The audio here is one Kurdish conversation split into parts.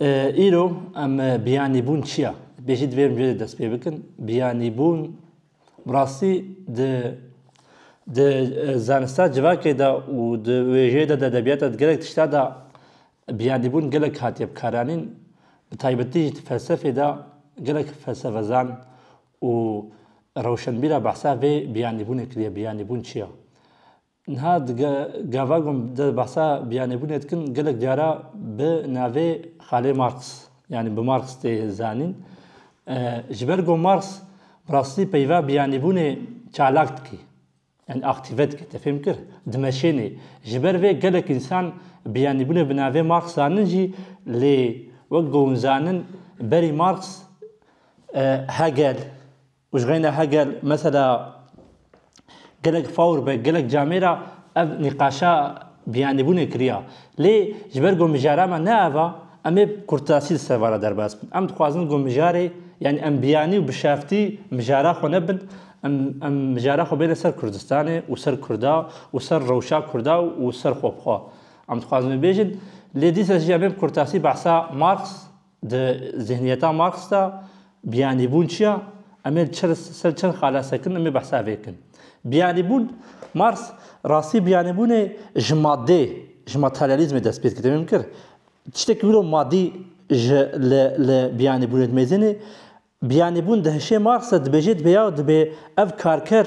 Îro em biyanîbûn çi ya? Bêjî divê em cihê dest pê bikin. Biyanîbûn bi rastî di di e, zanista civakê de û di wêjeyê de di edebiyata di gelek tişta de biyanîbûn gelek hatiye bikaranîn. Bi taybetî jî di felsefê de gelek felsefezan û rewşenbîra behsa vê biyanîbûnê kiriye. Biyanîbûn çi ya? Niha di gava ku em dê behsa biyanêbûnê dikin gelek cara bi navê Xalê Marx yanî bi Marx tê zanîn. Ji ber ku Marx bi rastî peyva biyanîbûnê çalak dikî. Yani aktive dike te fêm kir. Dimeşênê. Ji ber vê gelek însan biyanîbûnê bi navê Marx zanin jî lê wek ku hûn zanin berî Marx Hegel, Û ji xeyna heger mesela gelek fawr be gelek camê ra ev nîqaşa biyanîbûnê kiriya. Lê ji ber ku mijara me ne ev a em ê bi kurtasî li ser van re derbas bin. Em dixwazin ku mijarê yanî em biyanî û bişeftî mijara xwe nebin. Em em mijara xwe bêne ser Kurdistanê û ser Kurda û ser rewşa Kurda û ser xwebixwe. Em dixwazin bibêjin. Lê dîsa jî em ê bi kurtasî behsa Marx Di zîhniyeta Marx de biyanîbûn çi ye? Em ê li ser çend xala sekin em ê behsa vê bikin. Biyanîbûn, Marx rastî biyanîbûnê ji maddê, ji materyalîzmê dest pê dike. Demê min kir, tiştekî wilo maddî ji li li biyanîbûnê dimezêne. Biyanîbûn di hişê Marx de dibêje dibe ya dibe ev karker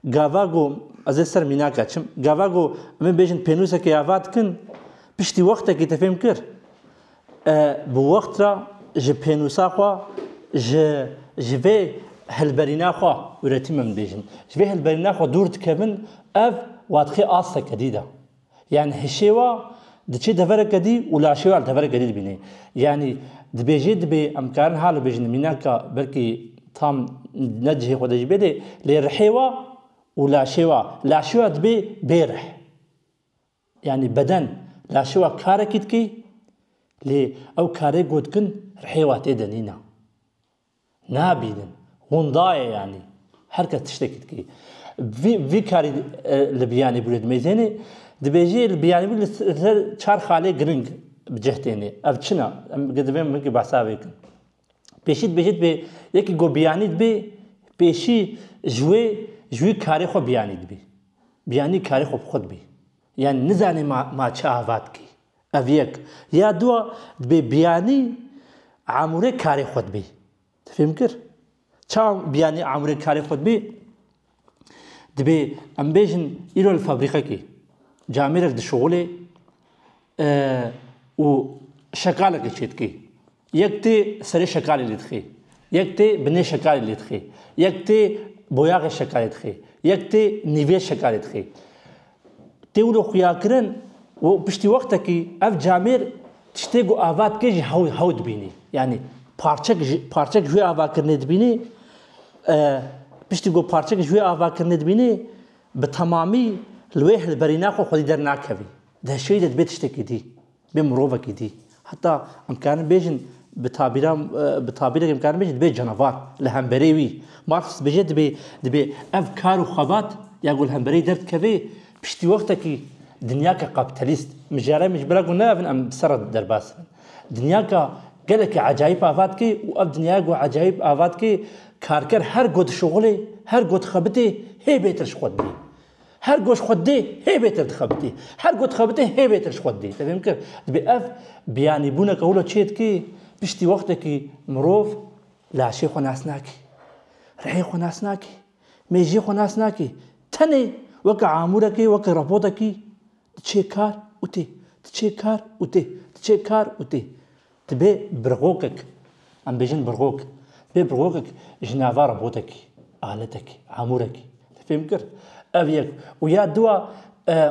Gava got, Ez ê ser mînaka çim. Gava got, Em ê bêjin pênûsekê ava dikin. Piştî wextekî te fêm kir. E, bi wext re ji pênûsa xwe, ji, ji vê hilberîna xwe, üretim em dibêjin, ji vê hilberîna xwe dûr dikevin, ev, wadixê astekerî de. Yanî hişêwa diçê devereke dî û laşêwa li devereke dî dibînê. Yanî dibêjê dibê em karin ha li bêjin mînaka belkî tam ne cihê xwe de jî bê lê lê rihêwa û laşêwa laşêwa dibê bê rih. Yanî beden laşêwa karekî dikê lê ew karê ku dikin rihêwa tê de nîna. Nabînin. Winda ye yanî. Her kes tiştekî dike. Vî vî karî e, li Biyanîbûrê dimezêne. Dibêje li Biyanîbûr li ser çar xalê giring bi cih têne. Ev çin e. Em divê min ki behsa vê bikin. Pêşî dibêje dibê yekî ku biyanî dibê pêşî ji wê ji wî karê xwe biyanî dibê. Biyanî karê xwe bi xwe dibê. Yani nizanê ma ma çi ava dikê. Ev yek. Ya dua dibê biyanî amûrê karê xwe dibî. Ti fêm kir? Çawa biyanî amûrê karê xwe dibî? Dibê em bêjin îro li fabrîkekî camêrek dişuxulê û şekalekê çêdikî. Yek tê serê şekalê lê dixê. Yek tê binê şekalê lê dixê. Yek tê boyaxê şekalê dixê. Yek tê nîvê şekalê dixê. Tê wilo xuyakirin û piştî wextekî ev camêr tiştê ku ava dike jî hew hew dibînî. Yanî parçek ji parçek ji wê avakirinê dibînî piştî ku parçek ji wê avakirinê dibînî bi temamî li wê hilberîna xwe xwedî dernakevî. Di heşiyeyî de dibê tiştekî dî. bê mirovekî dî. Heta em karin bêjin bi tabîra bi tabîrekê em karin bêjin dibê canavar li hemberê wî. Marx dibêje dibê dibê ev kar û xebat ya ku li hemberê derdikeve piştî wextekî dinyayeke kapîtalîst mijara min ji ber ku neavin em bi ser re derbas dibin. Dinyayeke gelekî ecayîb ava dike û ev dinyaya ku ecayîb ava dike karker her ku dişuxulê, her ku dixebitê hê bêtir ji xwe didê. Her ku ji xwe dê hê bêtir dixebitî. Her ku dixebitî hê bêtir ji xwe didî. Tevîm kir? Dibê ev biyanîbûneke wilo çê dikê piştî wextekî mirov laşê xwe nas nakî. Rihê xwe nas nakî. Mêjiyê xwe nas nakî. Tenê weke amûrekê, weke robotekî diçê kar û tê. Diçê kar û tê. Diçê kar û tê. Ti bê birxokek, em bêjin birxok, ti bê birxokek ji nava robotekî, aletekî, amûrekî. Te fêm kir? Ev yek û ya du a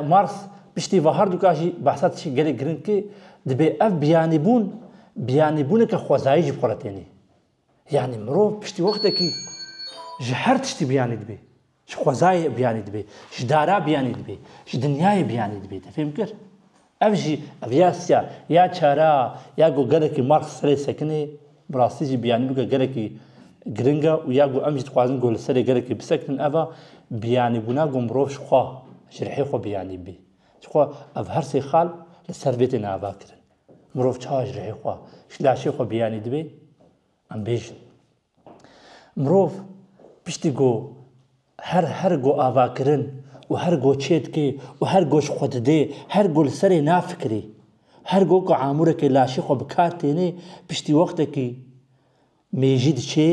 Mars piştî va her du ka jî behsa tişkê gelek giring kê, dibê ev biyanîbûn biyanîbûneke xwezayî ji xwe re tênê. Yanî mirov piştî wextekî ji her tiştî biyanî dibê. Ji xwezayê biyanî dibê, ji dara biyanî dibê, ji dinyayê biyanî dibê. Te fêm kir? Ev jî ev ya siya, ya çara, ya ku gelekî Marx serê sekinê, bi rastî jî biyanî bike gelekî giring e û ya ku em jî dixwazin ku li serê gelekî bisekinin ev a, biyanîbûna ku mirov ji xwe, ji rihê xwe biyanî bibê. Ji xwe ev her sê xal li ser vê têne avakirin. Mirov çawa ji rihê xwe, ji laşê xwe biyanî dibê? Em bêjin. Mirov piştî ku her her ku avakirin û her ku çê dike û her ku ji xwe dide, her ku li serê nafikire, her ku ku amûrekê laşê xwe bi kar têne, piştî wextekî mêjî diçe,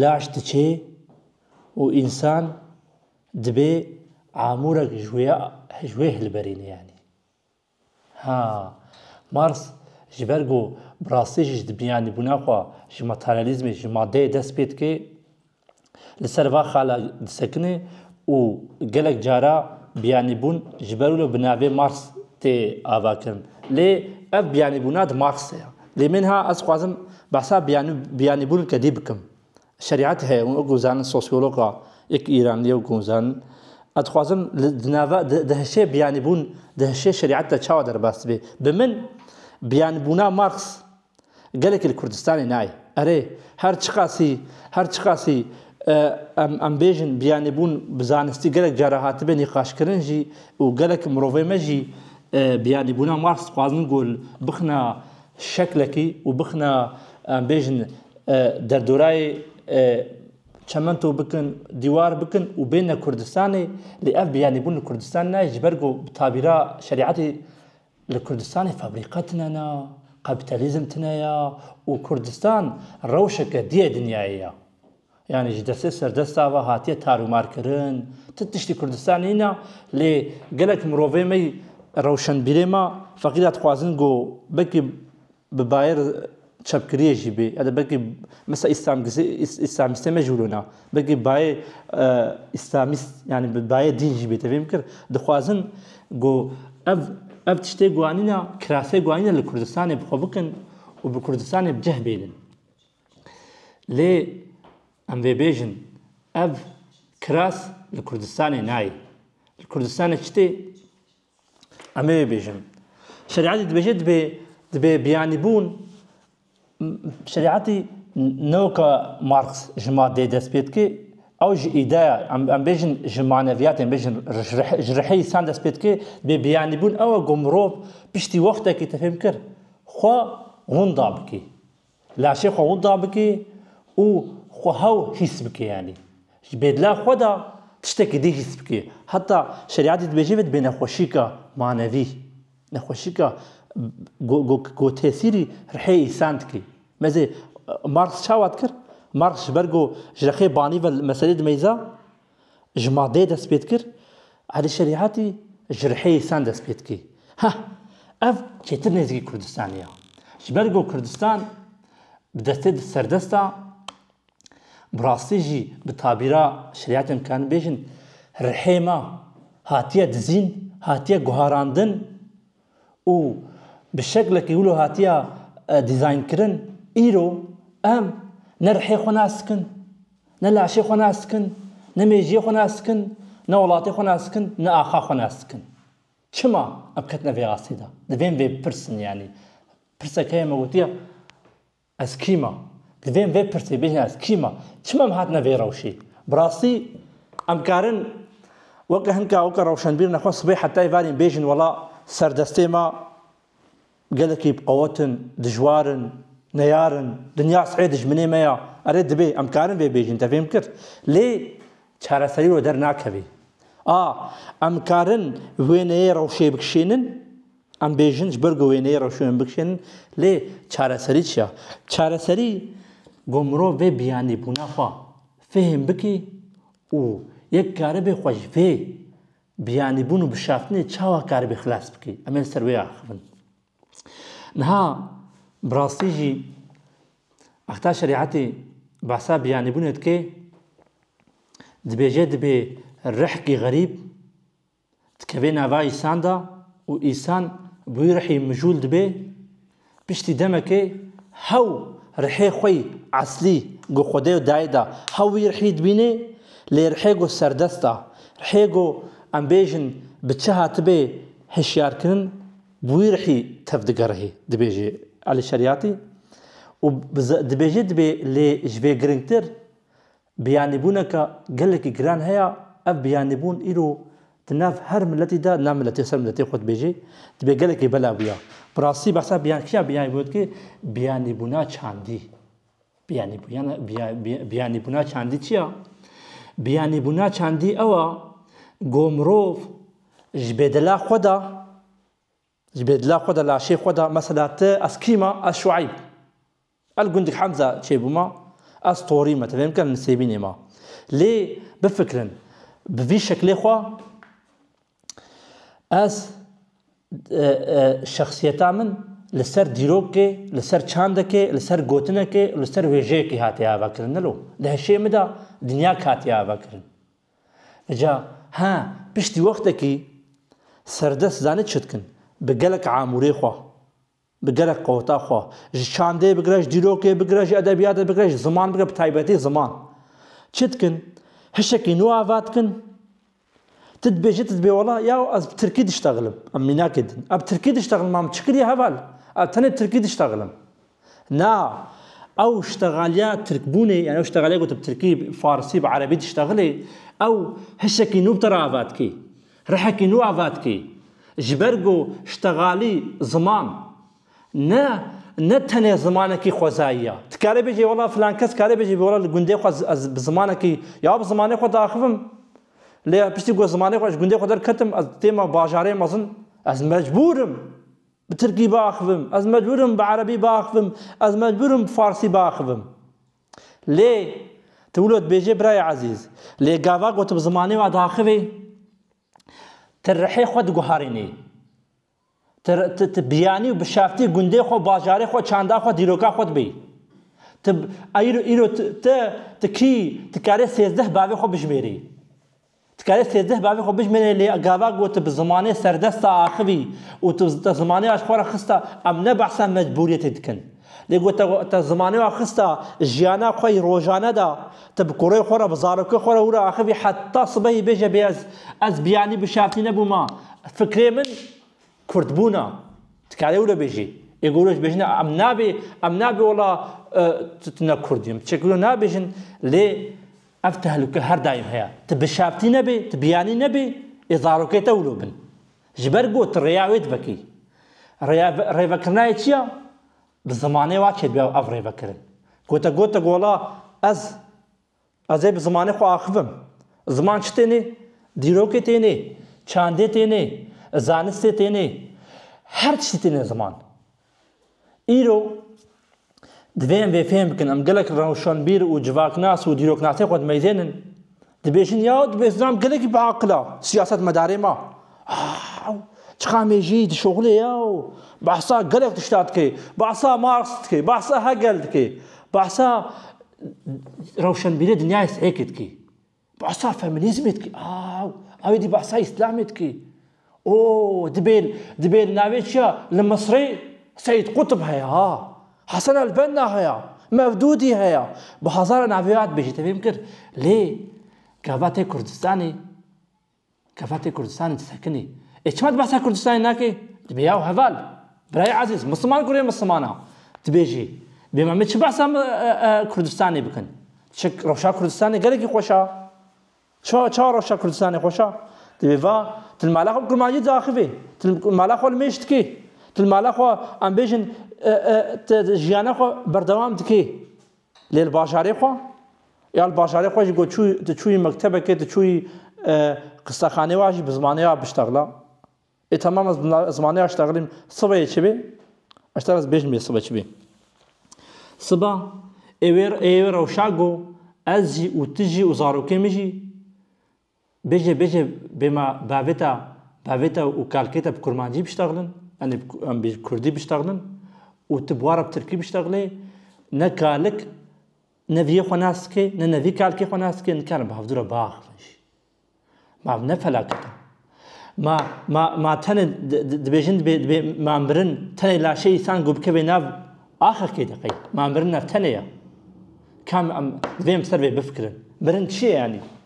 laş diçe û însan dibe amûrek ji wê hilberîne yanî. Ha, Marx ji ber ku bi rastî jî di biyanîbûna xwe ji materyalîzmê, ji madeyê dest pê dike, li ser va xala disekine û gelek cara biyanîbûn ji ber wilo bi navê Marx tê avakirin. Lê ev biyanîbûna di Marxê ye. Lê min ha ez dixwazim behsa biyanîbûn kedî bikim. Şerîet heye û wekî zanist sosyologa yek îranî yew gunzan ez dixwazim li di nava di hişê biyanîbûn di hişê şerîet de çawa derbas dibe. Bi min biyanîbûna Marx gelekî li Kurdistanê nayê. Erê her çiqasî her çiqasî em em bêjin biyanîbûn bi zanistî gelek cara hatibe nîqaşkirin jî û gelek mirovê me jî biyanîbûna Marx dixwazin gul bixina şeklekî û bixna em bêjin derdorayê çemento bikin, dîwar bikin û bêne Kurdistanê, lê ev biyanîbûn li Kurdistan nayê ji ber ku bi tabîra şerîetê li Kurdistanê fabrîka tune ne, kapîtalîzm tune ye û Kurdistan rewşeke diyê dinyayê ye. Yanî ji destê serdesta ve hatiye tarûmarkirin. Ti tiştî Kurdistan nîne lê gelek mirovê me rewşenbîrê me feqîda dixwazin ku belkî bi bayir çepkiriyê jî bê ya da belkî mesela îslamîstê me jî wilo ne belkî bayê îslamîst yanî bi bayê dîn jî bê tevî bikir dixwazin ku ev ev tiştê guanîne kirasê guanîne li Kurdistanê bi xwe bikin û bi Kurdistanê bi cih bêlin. Lê em vê bêjin ev kiras li Kurdistanê nayê. Li Kurdistanê çi tê? Em ê bêjin. Şerîetê dibêje dibê dibê biyanîbûn şerîetî newka Marx ji madeyê dest pê dike ew ji îdeya em bêjin ji maneviyatê em bêjin ji rihê însan dest pê dike bê biyanîbûn ew e ku mirov piştî wextekî te fêm kir xwe winda bikî. Laşê xwe winda bike û xwe hew hîs bike yanî ji bêdila xwe de tiştekî dî hîs bike. Heta şerîatî dibêje vê dibe nexweşîka manevî, nexweşîka ku tesîrî rihê însan dike. Mezê Marx çawa dikir? Marx ji ber ku ji rexê banî ve meselê dimeyza Ji madeyê dest pê dikir, Elî Şerîatî ji riheyê sen dest pê dikî. Heh, ev çêtir nêzîkî Kurdistanî ye. Ji ber ku Kurdistan bi destê di serdest a, bi rastî jî bi tabîra Şerîatê em dikarin bêjin, rihê me hatiye dizîn, hatiye guharandin, û bi şeklekî wilo hatiya dîzaynkirin, îro em ne rihê xwe nas dikin, ne laşê xwe nas dikin, ne mêjiyê xwe nas dikin, ne welatê xwe nas dikin, ne axa xwe nas dikin. Çima em ketine vê astê de? Divên vê bipirsin yanî. Pirsek heye me gotiye. Ez kî me? Divê vê pirsê bihîne ez kî me? Çima em hatine vê rewşê? Bi rastî em karin weke hin ka weke rewşenbîrina xwe sibê heta êvarîn bêjin wela serdestê me gelekî biqewet in, dijwar in, neyar in, dinya sey dijminê me ya? Erê dibê em karin vê bêjin te fêm kir. Lê çareserî wê dernakevî. A, em karin wêneyê rewşê bikişînin? Em bêjin ji ber ku wêneyê reşûyên bikişînin lê çareserî çi ya? Çareserî ku mirov vê biyanîbûna xwe fêhm bike û yek karibe xwe ji vê biyanîbûn û bişaftinê çawa karibe xilas bike. Em ê li ser wê axivin. Niha bi rastî jî Exta Şerîetê behsa biyanîbûnê dike dibêje dibê rihkî xerîb Dikevê nava îsan de û îsan bûyî rihî mijûl dibê, piştî demekê hew rihê xwe yî eslî ku xwedê û dayê de hew wî rihî dibînê lê rihê ku serdest e, rihê ku em bêjin bi çi hatibê hişyarkirin bûyî rihî tev digerihî dibêje Elî Şerîatî û dibêje dibê lê ji vê giringtir Biyanîbûneke gelekî giran heye, ev biyanîbûn îro di nav her miletî de na miletê ser miletê xwe dibêje, dibe gelekî belav ya. Bi rastî behsa biyan kîya biyanîbûnê dike? Biyanîbûna çandî. Biyanîbûyana biya biya biyanîbûna çandî çi ya? Biyanîbûna çandî ew a ku mirov ji bê dila xwe de ji bê dila xwe de laşê xwe de mesela ti ez kî ma ez şueyb El gundik Hemza çêbû ma, ez torî me, tevê bikin nisêbînê ma. Lê bifikirin, bi vî şeklê xwe ez şexsiyeta min li ser dîrokê, li ser çandekê, li ser gotinekê û li ser wêjeyekê hatiye avekirin. Nilo, di heşê min de dinyayek hatiye avekirin. Îca he, piştî wextekî serdest zanî çi dikin, bi gelek amûrê xwe. Bi gerek qota xwe, ji çandê bigire, ji dîrokê bigire, ji edebiyatê bigire, ji ziman bigire, bi taybetî ziman. Çi dikin? Hişekî nû ava dikin? Ti dibê jî ti dibê wela ya ez bi tirkî diştexilim. Em mînakê din. Ev tirkî diştexilim ma min çi kiriye heval? Ev tenê bi tirkî diştexilim. Na, ew ştegaliya tirkbûnê, yanî ew ştegaliya ku tu bi tirkî, bi farsî, bi erebî diştexilî, ew hişekî nû bi te re ava dikî. Rihekî nû avatkî, ji ber ku ştegalî ziman ne ne tenê zimanekî xwezayî ya. Ti karê bêjî wela filan kes karê bêjî wela li gundê xwe ez bi zimanekî ya bi zimanê xwe diaxivim. Lê piştî ku ez zimanê xwe ji gundê xwe derketim ez têma bajarê mezin ez mecbûr im bi tirkî biaxivim, ez mecbûr im bi erebî biaxivim, ez mecbûr im bi farsî biaxivim. Lê, tu wilo dibêjê birayê ezîz, lê gava ku tu bi zimanê we diaxivî, tu rihê xwe diguherînî. Tu, tu, tu biyanî û bişeftî gundê xwe, bajarê xwe, çanda xwe, dîroka xwe dibî. Tu, îro, îro tu, tu, tu kî, tu karê sêzdeh bavê xwe bijimêrî. Dikare sêzdeh bavê xwe bijmenê lê gava ku tu bi zimanê serdest de axivî û tu te zimanê wa ji xwe re xiste em ne behsa mecbûriyetê dikin. Lê ku te te zimanê wa xiste jiyana xwe yê rojane de tu bi kurê xwe re bi zarokê xwe re wî re axivî heta sibehî bêje bê ez ez biyanî bi şertî nebûma fikrê min kurdbûn e. Dikarê wilo bêjî. Ê ku wilo jî bêjin em nabê em nabê wela tu ne kurd im. Çek wilo nabêjin lê Ev tehlûke her daîm heye. Tu bi şaftî nebê, tu bi yanî nebê, ê zarokê te wilo bin. Ji ber ku tu rêya wê dibekî. Rêya rêvekirinayê çi ya? Bi zimanê wa çêdibe ev rêvekirin. Ku te gote gola ez, ez ê bi zimanê xwe axif bim. Ziman çi têne? Dîrokê têne, çandê têne, zanistê têne. Her tiştî têne ziman. Îro divê em vê fêm bikin em gelek rewşanbîr û civaknas û dîroknasê xwe dimeyzênin. Dibêjin ya dibê zilam gelekî bi aqil a siyasetmedarê ma. Aw çiqa mêjî di şoxulê ya û behsa gelek tişta dike. Behsa Marx dike, behsa Hegel dike, behsa rewşanbîrê dinyayê seyekê dike. Behsa feminîzmê dikî aw, aw êdî behsa îslamê dikî. O dibê dibê li navê çi ya li Misrê Seîd Qutb heye ha, Hesen El Benna heye, Mevdûdî heye, bi hezaran navê ya dibêjî tevî min kir. Lê gava tê Kurdistanê. Kefetê Kurdistanê disekinî. Ê çima tu behsa Kurdistanê nakî? Dibê yaw heval. Birayê ezîz, misliman kurê misliman a. Dibêjî, bê me min çi behsa Kurdistanê bikin? Çik rewşa Kurdistanê gelekî xweş a. Çawa çawa rewşa Kurdistanê xweş a? Dibê va, tu li mala xwe bi kurmancî diaxivî. Tu li mala xwe li mêj dikî. Tu li mala xwe em bêjin tu jiyana xwe berdewam dikî. Lê li bajarê xwe? Ya li bajarê xwe jî ku çû tu çûyî mektebekê, tu çûyî e, qistexanê wa jî bi zimanê wa biştexla. Ê tamam ez bi zimanê wa ştexlîm, sibeyê çi bê? Ez te ez bêjim bê sibe çi bê. Siba ê wê ê wê rewşa got ez jî û tu jî û zarokê min jî Bêje bêje bê ma bavêta bavêta û kalkêta bi kurmancî biştexlin yanî em bi kurdî biştexlin û tu bi wara bi tirkî biştexlê ne kalik ne viyê xwe nas dike ne ne vî kalkê xwe nas dike nikarin bi hevdûra biaxivin jî. Ma ne felaket e. Ma ma ma tenê dibêjin dibê dibê ma mirin tenê laşê îsan ku bikevê nav axekê de qey ma mirin ev tenê ye. Kam em divê em ser vê bifikirin. Mirin çi ye yanî?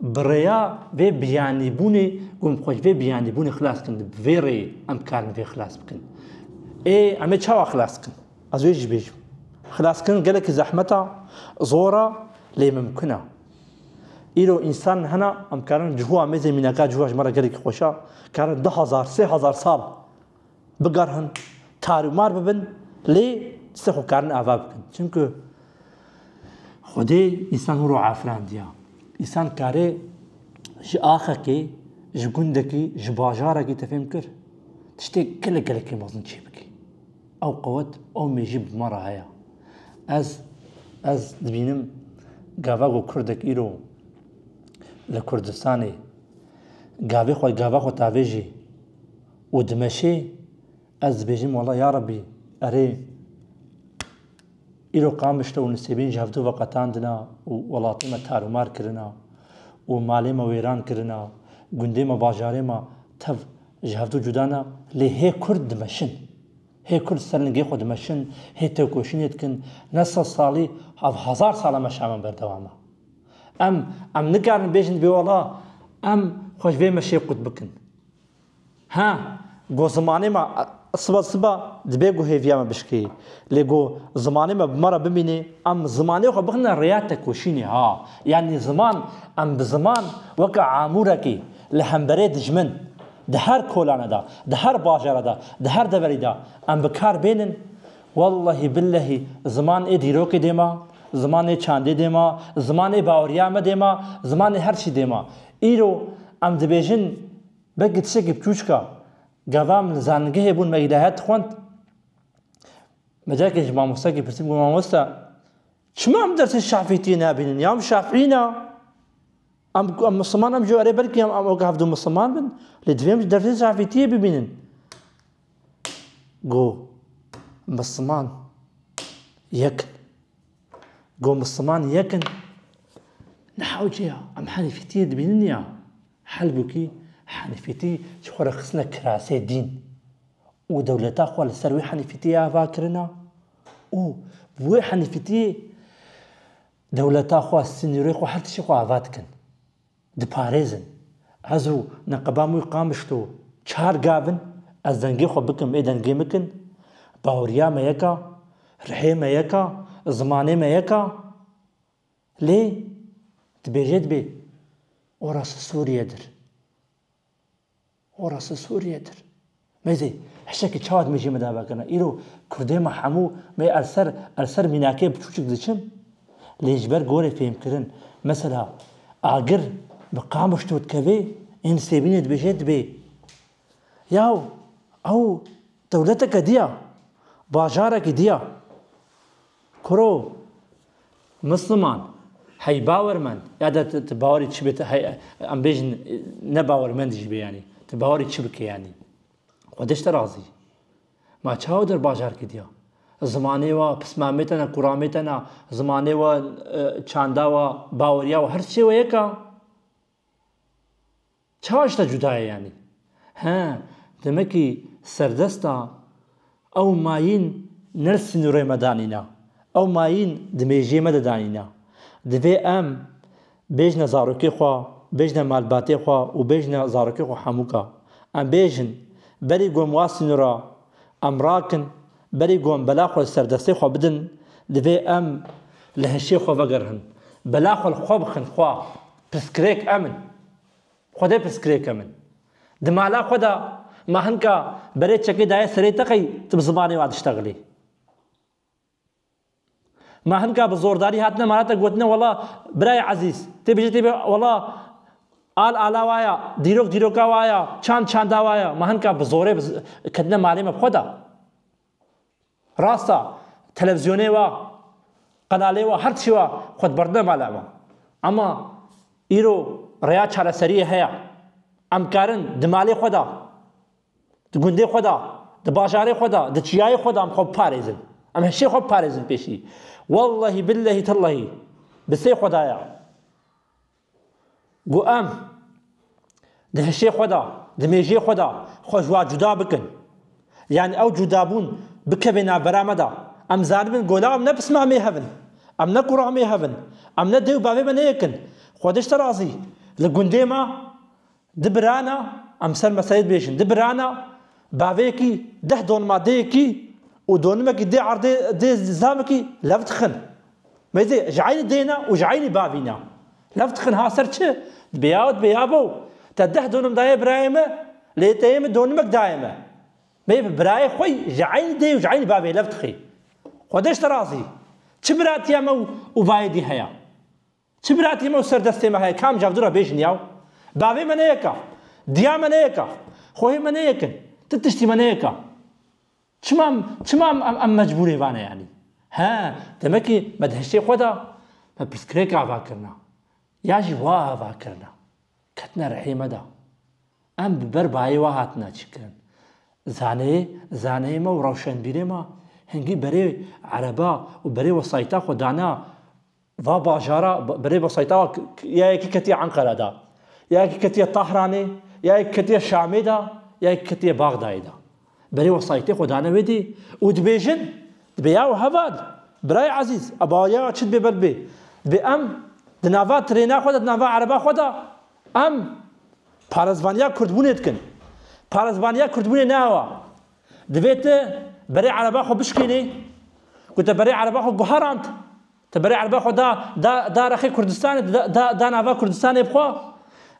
Bi rêya vê biyanîbûnê ku em xwe ji vê biyanîbûnê xilas bikin, bi vê rêyê em dikarin vê xilas bikin. Ê em ê çawa xilas bikin? Ez wê jî bêjim. Xilas bikin gelekî zehmet e, zor e, lê mimkun e. Îro însan hene em karin cihû amêzê mînaka cihû ya ji me re gelekî xweş e, karin du hezar, sê hezar sal Bigerhin, kar û mar bibin lê dîsa xwe karin ava bikin. Çimku Xwedê însan hûro afirandiya. Însan karê ji axekê, ji gundekî, ji bajarekî te fêm kir. Tiştê gelek gelekî mezin çê bikî. Ew qewet, ew mêjî bi me re heye. Ez ez dibînim gava ku kurdek îro li Kurdistanê gavê xwe gava xwe tavêjî Û dimeşê ez dibêjim wala ya Rebî erê îro Qamişlo û Nisêbîn ji hevdu ve qetandina û welatê me tarûmar kirina û malê me wêran kirina, gundê me bajarê me tev ji hevdu cuda ne lê hê Kurd dimeşin. Hê Kurd ser lingê xwe dimeşin, hê tevkoşînê dikin, ne sed salî hev hezar sal e meşa me berdewam e. Em em nikarin bêjin dibê wala em xwe ji vê meşê qut bikin. Ha, got zimanê me siba siba dibe ku hêviya me bişkê. Lê got zimanê me bi me re bimînê, em zimanê xwe bixine rêya tekoşînê. Ha, yanî ziman, em bi ziman weke amûrekî li hemberê dijmin, di her kolane de, di her bajere de, di her deverî de em bi kar bênin Wellehî billehî ziman ê dîrokê dê ma, ziman ê çandê dê ma, ziman ê baweriya me dê ma, ziman ê her çî dê ma. Îro em dibêjin belkî tiştekî biçûçik a. Gava min li zanîngehê bûn me îlahiyat dixwend. Me carekê ji mamostekê pirsî got mamoste çima em dersê şafîtiyê nabînin ya em şafîî ne. Em em misliman em jî erê belkî em em ok hevdu misliman bin lê divê em jî dersê şafîtiyê bibînin. Go Misliman yekin. Go Misliman yekin. Li hewceya em henîfîtiyê dibînin ya helbûkî henîfîtî ji xwe re xistine kirasê dîn û dewleta xwe li ser wê henîfîtiyê ava kirina û bi wê henîfîtiyê dewleta xwe, sînorê xwe her tiştê xwe ava dikin. Diparêzin. Ez û neqeba mûy qamişt û çar gav in, ez dengê xwe bikim ê dengê min kin, baweriya me yek a, rihê me yek a, zimanê me yek a. Lê dibêje dibê orası Suriyedir. Horasa Sûriyê dir. Me zî hişekî çawa dimê jê me dava kirina. Îro kurdê me hemû me er ser er ser mînakê biçûçik diçin. Lê ji ber gorê fêhmkirin. Mesela agir bi Qamişlo dikeve ên Sêbînê dibêje dibê. Yaw ew dewleteke diya. Bajarekî diya. Kuro, Musliman, hey bawermend, ya de tu bawerî çi bê, tu hey em bêjin ne bawermend jî bê yanî, tu bawerî çi bike yanî. Xwediş te razî. Ma çawa der bajar kediya? Zimanê we, pismamê te ne, kuramê te ne, zimanê we, çanda we, baweriya we, her çê we yek e. Çawa tişta cuda ye yanî? He, demekî serdesta ew mayîn ne li sînorê me danîna. Ew mayîn di mêjiyê me de danîna. Divê em bêjina zarokê xwe, bêjina malbatê xwe û bêjina zarokê xwe hemûka. Em bêjin, berî ku em wa sînora em rakin, berî ku em bela xwe li serdestê xwe bidin, divê em li hişê xwe vegerhin. Bela xwe li xwe bixin xwe. Pirsgirêk em in. Xwedê pirsgirêk em in. Di mala xwe de ma hinka berê çekê daye serê te qey tu bi zimanê wa diştexilî? Ma hinka bi zordarî hatine mala te gotine wela birayê ezîz tê bêje tê bê wela al ala wa ya, dîrok dîroka wa ya, çand çanda wa ya. Ma hinka bi zorê ketine malê me bi xwe de. Rast a, televîzyonê wa, qenalê wa her çi wa xwe diberdine mala wan. Ema îro rêya çareseriyê heye. Em karin di malê xwe de, di gundê xwe de, di bajarê xwe de, di çiyayê xwe de em xwe biparêzin. Em hişê xwe biparêzin pêşî. Wellehî billehî tillehî bi sê xwedaya. Ku em di hişê xwe de, di mêjê xwe de xwe ji wan cuda bikin, yanî ew cudabûn bikeve navbera me de. Em zanibin ku la em ne pisma me hev in, em ne kura me hev in, em ne dê û bavê me ne yek in. Xwedişt e razî li gundê me Di birana, em ser meselê dibêjin, di birana bavêkî deh donima dêyekî û donimekî dê erdê dê zivamekî lev dixin. Mêzê ji eynî dê ne û ji eynî bavî ne. Lev dixin ha ser çi? Dibê ya û dibê ya bo. Te deh donim daye birayê me, lê te yê min donimek daye me. Mêz bi birayê xwe ji eynî dê û ji eynî bavê lev dixî. Xwedê ji te razî. Çi biratiya me û bavê dî heye? Çi biratî me û ser destê me heye, kam cav dû re bêjin yaw? Bavê me ne yeka, diya me ne yeka, xwehê me ne yekin, ti tiştî me ne yeka. Çima em, çima em, em, em mecbûrê vane yanî? He, demekî me di hişê xwe de, me pirsgirêk ava kirina, ya jî wa ava kirina, ketine rihê me de. Em bi ber bayê we hatine çêkirin. Zaneyê, zaneyê me û rewşenbîrê me hingî berê ereba û berê wesayîta xwe dana, Va bajara bi rê mosayîtawa ya yekî ketiye Enqere de, ya yekî ketiye Tahranê, ya yekî ketiye Şamê de, ya yekî ketiye Baxdayê de. Bi rê wesayîtê xwe dane wê dî û dibêjin, dibê ya û heval, Birayê ezîz, a bawerîya we çi dibê ber bibê, dibê em di nava tirêna xwe de, di nava ereba xwe de em parezvaniya kurdbûnê dikin. Parezvaniya kurdbûnê ne ew e. Divê tu berê ereba xwe bişkînî ku te berê ereba xwe guherand. Tu berê ereba xwe da da da rexê Kurdistanê, tu da da da nava Kurdistanê bi xwe,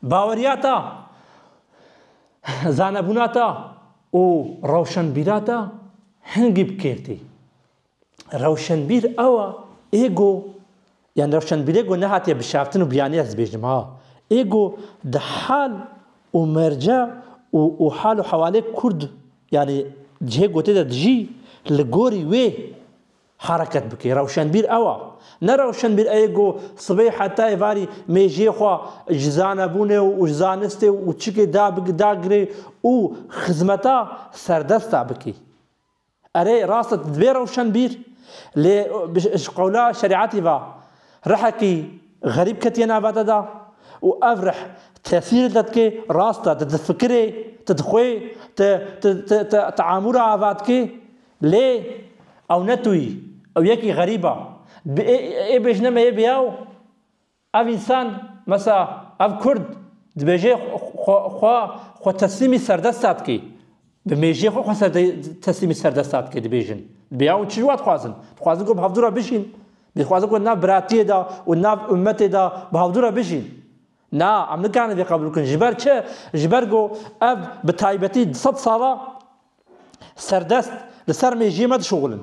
baweriya te, zanebûna te û rewşenbîra te hingî bi kêrtî. Rewşenbîr ewa ê go yani rewşenbîrê go nehatiye bişaftin û biyanî ez dibêjim ha. Ê go di hal û merce û û hal û hewalê kurd yani cihê gotê de dijî li gorî wê hereket bike. Rewşenbîr ewa. Ne rewşenbîr ê go sibê hetayê varî mêjiyê xwe ji zanebûnê û ji zanistê û çikê da bigire û xizmeta serdesta bike. Erê, rast e dibe rewşenbîr, lê ji qewla şerîetî ve rihekî xerîb ketiye nava te de û ev rih tesîr li te dike, rast e tu difikir î, tu dixwî, tu teamûl a ava dikî, lê ew ne tu î, ew yekî xerîb e. Bi ê bêjine me yê biyaw, Ev însan, mesa ev kurd dibêje xwe xwe teslîmî serdesta dike, bi mêjiyê xwe xwe teslîmî serdesta dike dibêjin. Dibê ew çi ji wan dixwazin? Dixwazin ku bi hevdû re bijîn. Dixwazin ku di nav biratiyê de û di nav ummetê de bi hevdû re bijîn. Na, em nikarin vê qebûl bikin. Ji ber çi? Ji ber ku ev bi taybetî di sed sala serdest li ser mêjiyê me dişuxulin.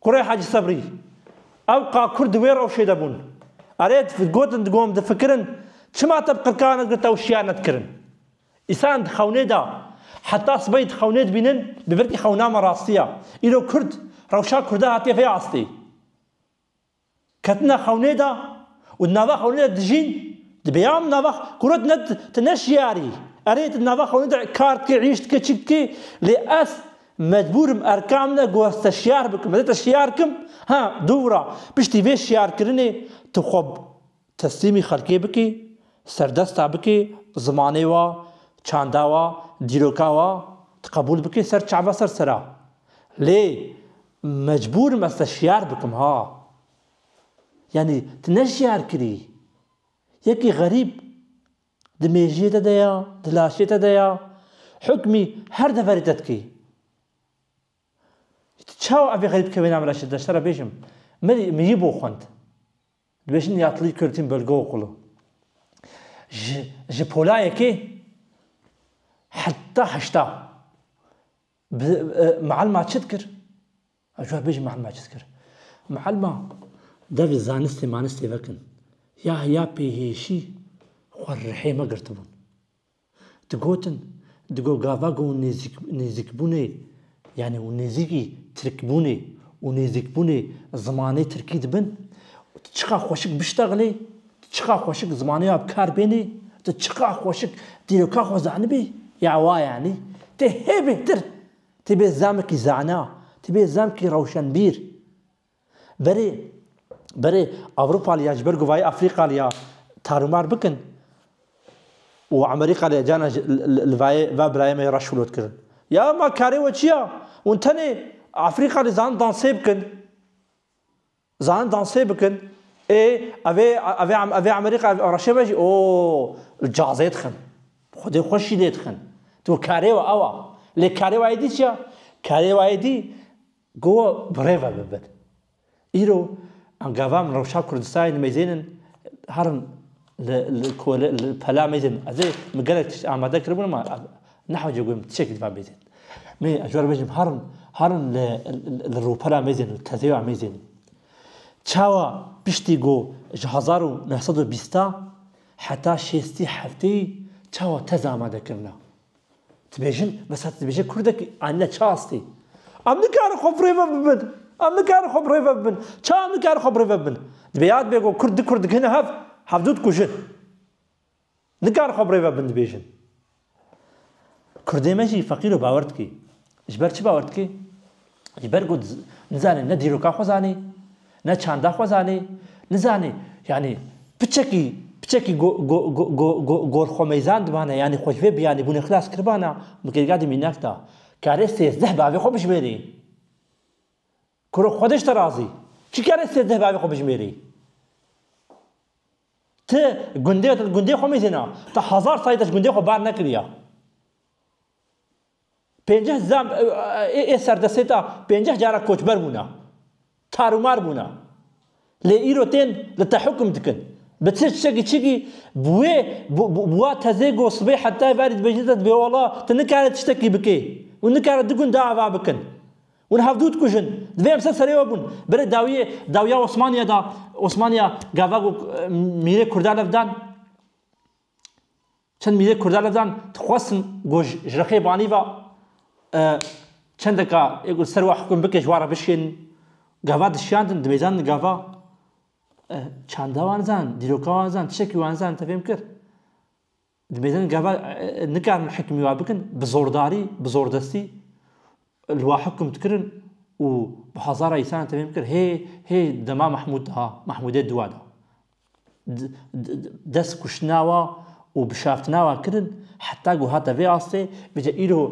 Kurê Hacî Sebrî, Ew ka Kurd di wê rewşê de bûn. Erê, gotin digom, difikirin, çima te bi qirkana girt ew şiyar nedikirin? Îsan di xewnê de, heta sibehî di xewnê dibînin, bi virkî xewna me rastî ya. Îro Kurd, rewşa Kurda hatiye vê astê. Ketine xewnê de û di nava xewnê de dijîn, dibe ya min ava ku rê tu ne şiyarî, erê tu di nava xewnê de kar dikî, îş dikî, çi dikî, lê ez mecbûr im erka min e ku ez te şiyar bikim, ez ê te şiyar kim, ha dûvira, piştî vê şiyarkirinê tu xwe Teslîmî xelkê bikî, serdesta bikî, zimanê wa, çanda wa, dîroka wa ti qebûl bikî ser çava ser sera. Lê mecbûr im ez te şiyar bikim ha. Yanî ti ne şiyar kirî. Yekî xerîb di mêjiyê te de ya, di laşê te de ya, hukmî her deverê te dikî. Çawa evê xeyî bike wê name ra şê deşte ra bêjim Milî miyî bo xwend. Dibêjin ya tilî Kurdîn bölge okulu. Ji ji polayekê heta heşta bi mielma çi dikir? Ez cû bêjim mielma çi dikir? Mielma devê zanistê manistê vekin. Ya ya pêhêşî xwe rihê me girtibûn. Digotin, di go gava ku nêzîk nêzîkbûnê yanî û nêzîkî tirkbûnê û nêzîkbûnê zimanê tirkî dibin, tu çiqa xweşik biştexlî, tu çiqa xweşik zimanê wa bi kar bênî, tu çiqa xweşik dîroka xwe zanibî, ya wa yanî tê hê bêhtir, tê bê zemkî zana, tê bê zemkî rewşenbîr. Berê, berê Ewropalî ya ji ber guvayê Afrîkalî ya tarûmar bikin û Amerîkalî ya cana ji li vayê va birayê me yê reş filot kirin. Ya ma karê we çi ya? Hûn tenê Afrîkalî zanin dansê bikin. Zanin dansê bikin. Ê evê evê evê Amerîka reşê me jî oo li cazê dixin. Xwedê xweş jî lê dixin. Tu karê we ew a. Lê karê wayê dî çi ya? Karê wayê dî Gowa birêve bibin. Îro em gava min rewşa Kurdistanê nimeyzên in herin li kole li pela mêzên ez ê min gelek tişt amade kiribûn ma nehewce guhim tişekî divan mêzên. Mê ez jwar bêjim herin herin li li rûpela mêzên û tezêya mêzên. Çawa piştî got ji hezar û neh sed û bîsta heta şêstî hefteyî çawa tez amade kirina. Dibêjin, mesela tu dibêje kurdek anîne çi astê? Em nikarin xwe bi rêve bibin. Em nikarin xwe bi rêve bibin. Çawa em nikarin xwe bi rêve bibin? Dibê yad bê ku kurd du kurd dikine hev, hevdu dikujin. Nikarin xwe bi rêve bibin dibêjin. Kurdê me jî feqîr û bawer dike. Ji ber çi bawer dikî? Ji ber ku nizanî ne dîroka xwe zanî, ne çanda xwe zanî, nizanî yanî piçekî piçekî gorxwemeyzan dibane yanî xwe ji vê biyanîbûnê xilas kiribana bi kêrga di mînak da. Karê sêzdeh bi avê xwe bijimêrî. Kuro xwe dişte razî. Çi karê sêzdeh bi avê xwe bijimêrî? Ti gundê te li gundê xwe mezîna. Ti hezar salî te ji gundê xwe bar nekiriya. Pênceh zam ê ê serdestê de pênceh caran koçber bûne. Tarûmar bûne. Lê îro tên li tehûkim dikin. Bi çi çikî çikî bi wê bi wa tezê ku sibê hetayê verî dibêjin te dibê wala tu nikare tiştekî bikê û nikare du gund ava bikin. Hûn hevdû dikujin. Divê em ser serê we bûn. Berê dawiyê dawiya Osmaniye de Osmaniya gava ku mîrê kurdan ev dan. Çend mîlê Kurda li dan dixwestin ku ji Rixê Banî ve çendeka yê ku li ser we hikûm bike ji wan re bişkênin. Gava dişiyandin, dimêjandin gava. Çanda wan nizanin, dîroka wan nizanin, tiştekî wan nizanin te fêm kir. Dimêjandin gava nikarin hikûmî wan bikin bi zordarî, bi zordestî. Li wa hukm dikirin û bi hezara îsanan tevî bikir hê hê dema Mehmûd de ha, Mehmûdê dûa de. Dest kuştina wa û bişaftina wa kirin heta ku hate vê astê bije îro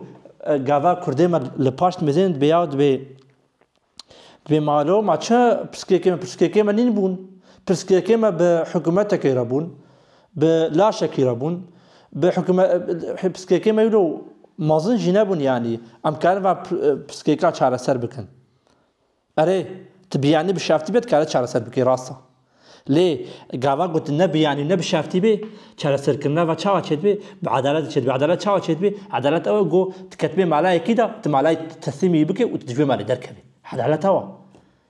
gava kurdê me li paş dimezên dibê ya dibê dibê malo ma çi pirsgirêkê me pirsgirêkê me nîn bûn. Pirsgirêkê me bi hikûmetekê re bûn. Bi laşekî re bûn. Bi hikûme piskekê me wilo mezin jî nebûn yanî em karin va piskeka çareser bikin. Erê, tu biyanî bi şeftî be dikare çareser bikî rast e. Lê gava ku tu ne biyanî û ne bi şeftî bê, çareserkirina va çawa çêdibê? Bi edaletê çêdibê. Edalet çawa çêdibê? Edalet ew e ku tu ketibê malayekî de, tu malayê teslîmî bikê û tu di civê malê derkevî. Edalet ew e.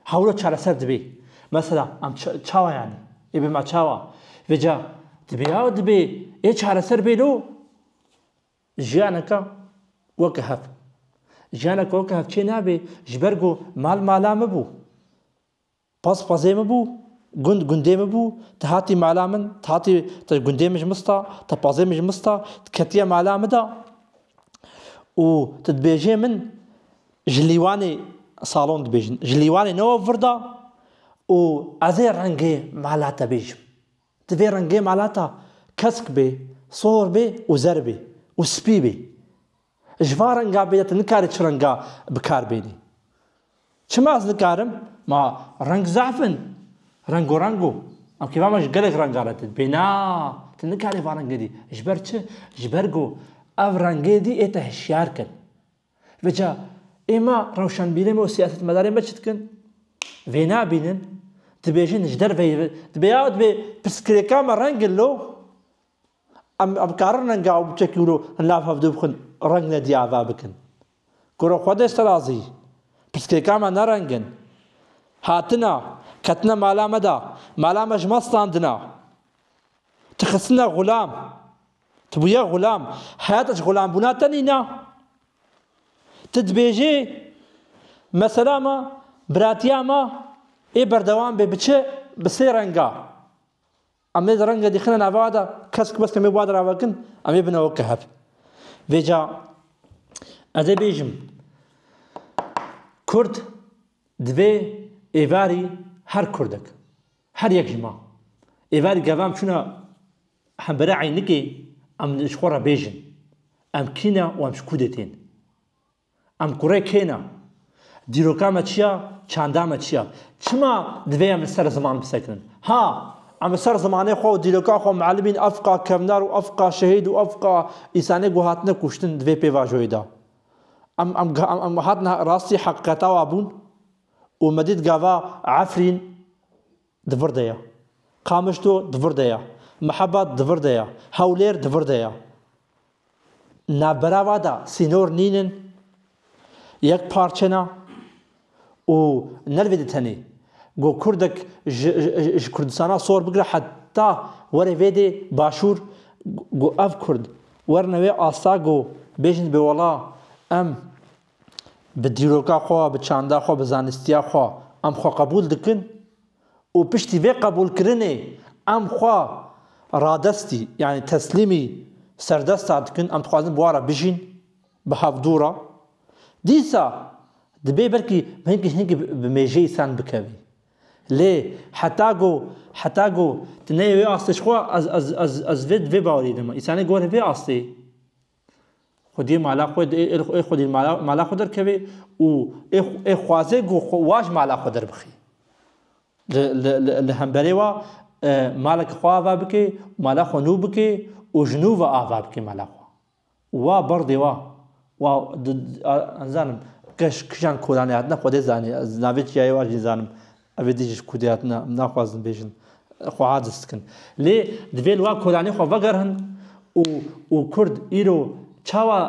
Hewlo çareser dibê. Mesela em çawa yanî? Ê bi me çawa? Vê ca dibê ya dibê ê çareser bê lo. Jiyaneka weke hev. Jiyaneka weke hev çê nabê ji ber ku mal mala min bû. Pez pezê min bû, gund gundê min bû, te hatî mala min, te hatî te gundê min ji min sta, te pezê min ji min sta, tu ketiye mala min de û tu dibêjê min Ji lîwanê salon dibêjin. Ji lîwanê ne we vir da û ez ê rengê mala te bêjim. Divê rengê mala te kesk bê, sor bê û zer bê û spî bê. Ji van rengan bêde tu nikarî çi renga bi kar bênî. Çima ez nikarim? Ma reng zehf in. Rengorengo. Em kêfa me ji gelek rengan re tê. Dibê na, tu nikarî van rengê dî. Ji ber çi? Ji ber ku ev rengê dî ê te hişyar kin. Veca, ê ma rewşenbîrên me û siyasetmedarên me çi dikin? Vênabînin, dibêjin ji derve yê dibe ya dibe pirsgirêka me reng in lo? Em em karin renga ew biçekî wilo hin lav hevdû bixin reng nedî ava bikin. Gora xwe dê serazî. Pirsgirêka me ne reng in. Hatine, ketine mala me de, mala me ji me standine. Tixistine xulam. Tu bûye xulam. Heyata ji xulambûna te nîna. Tu dibêjî mesela me, biratiya me ê berdewam bê bi çi? Bi sê renga. Em ê di rengê dî xine nava de kesk mesk em ê bi wa de ravekin, em ê bine weke hev. Vê ca ez ê bêjim Kurd divê êvarî her Kurdek. Her yek ji ma. Ê ver gevam çûna hembêra Eynikê em li xwe re bêjin, Em kî ne û em ji ku dê tên? Em kurê kê ne? Dîroka me çi ya, çanda me çi ya? Çima divê em li ser ziman bisekinin? Ha! Em li ser zimanê xwe û dîroka xwe mielibîn afqa kevner û afqa şehîd û afqa îsanê ku hatine kuştin di vê pêvajoyê de. Em em em hatine rastî heqîqeta we bûn? û me dît gava Efrîn di vir de ye, Qamişlo di vir de ye, Mihebat di vir de ye, Hewlêr di vir de ye. Navbera we de sînor nîn in, yek parçe ne û ne li vê de tenê. Ku kurdek ji Kurdistana sor bigire heta were vê dê başûr, ku ev kurd werin wê asta ku bêjin dibê wala em bi dîroka xwe, bi çanda xwe, bi zanistiya xwe em xwe qebûl dikin û piştî vê qebûlkirinê em xwe radestî yanî teslîmî serdesta dikin, em dixwazin bi wan re bijîn, bi hevdû re. Dîsa dibê belkî hinkî hinkî bi mêjeyî sen bikevî. Lê heta ku heta ku tu neyê wê astê ji xwe ez ez ez ez vê vê bawerî dikim. Însanê gorî vê astê Xwediyê mala xwe ê xwe dî mala xwe derkevê û ê xwazê ku wa ji mala xwe derbixî. Li hemberê wa maleke xwe ava bike, mala xwe nû bike û ji nû ve ava bike mala xwe. Wa berdê wa. Wa nizanim kej kijan kolanê hatine xwedê zanî navê çiya ye wa jî nizanim. Ev ê din jî kûdê hat na, em naxwazin bêjin, xwe aciz dikin. Lê divê li wan kolanê xwe vegerihin û û kurd îro çawa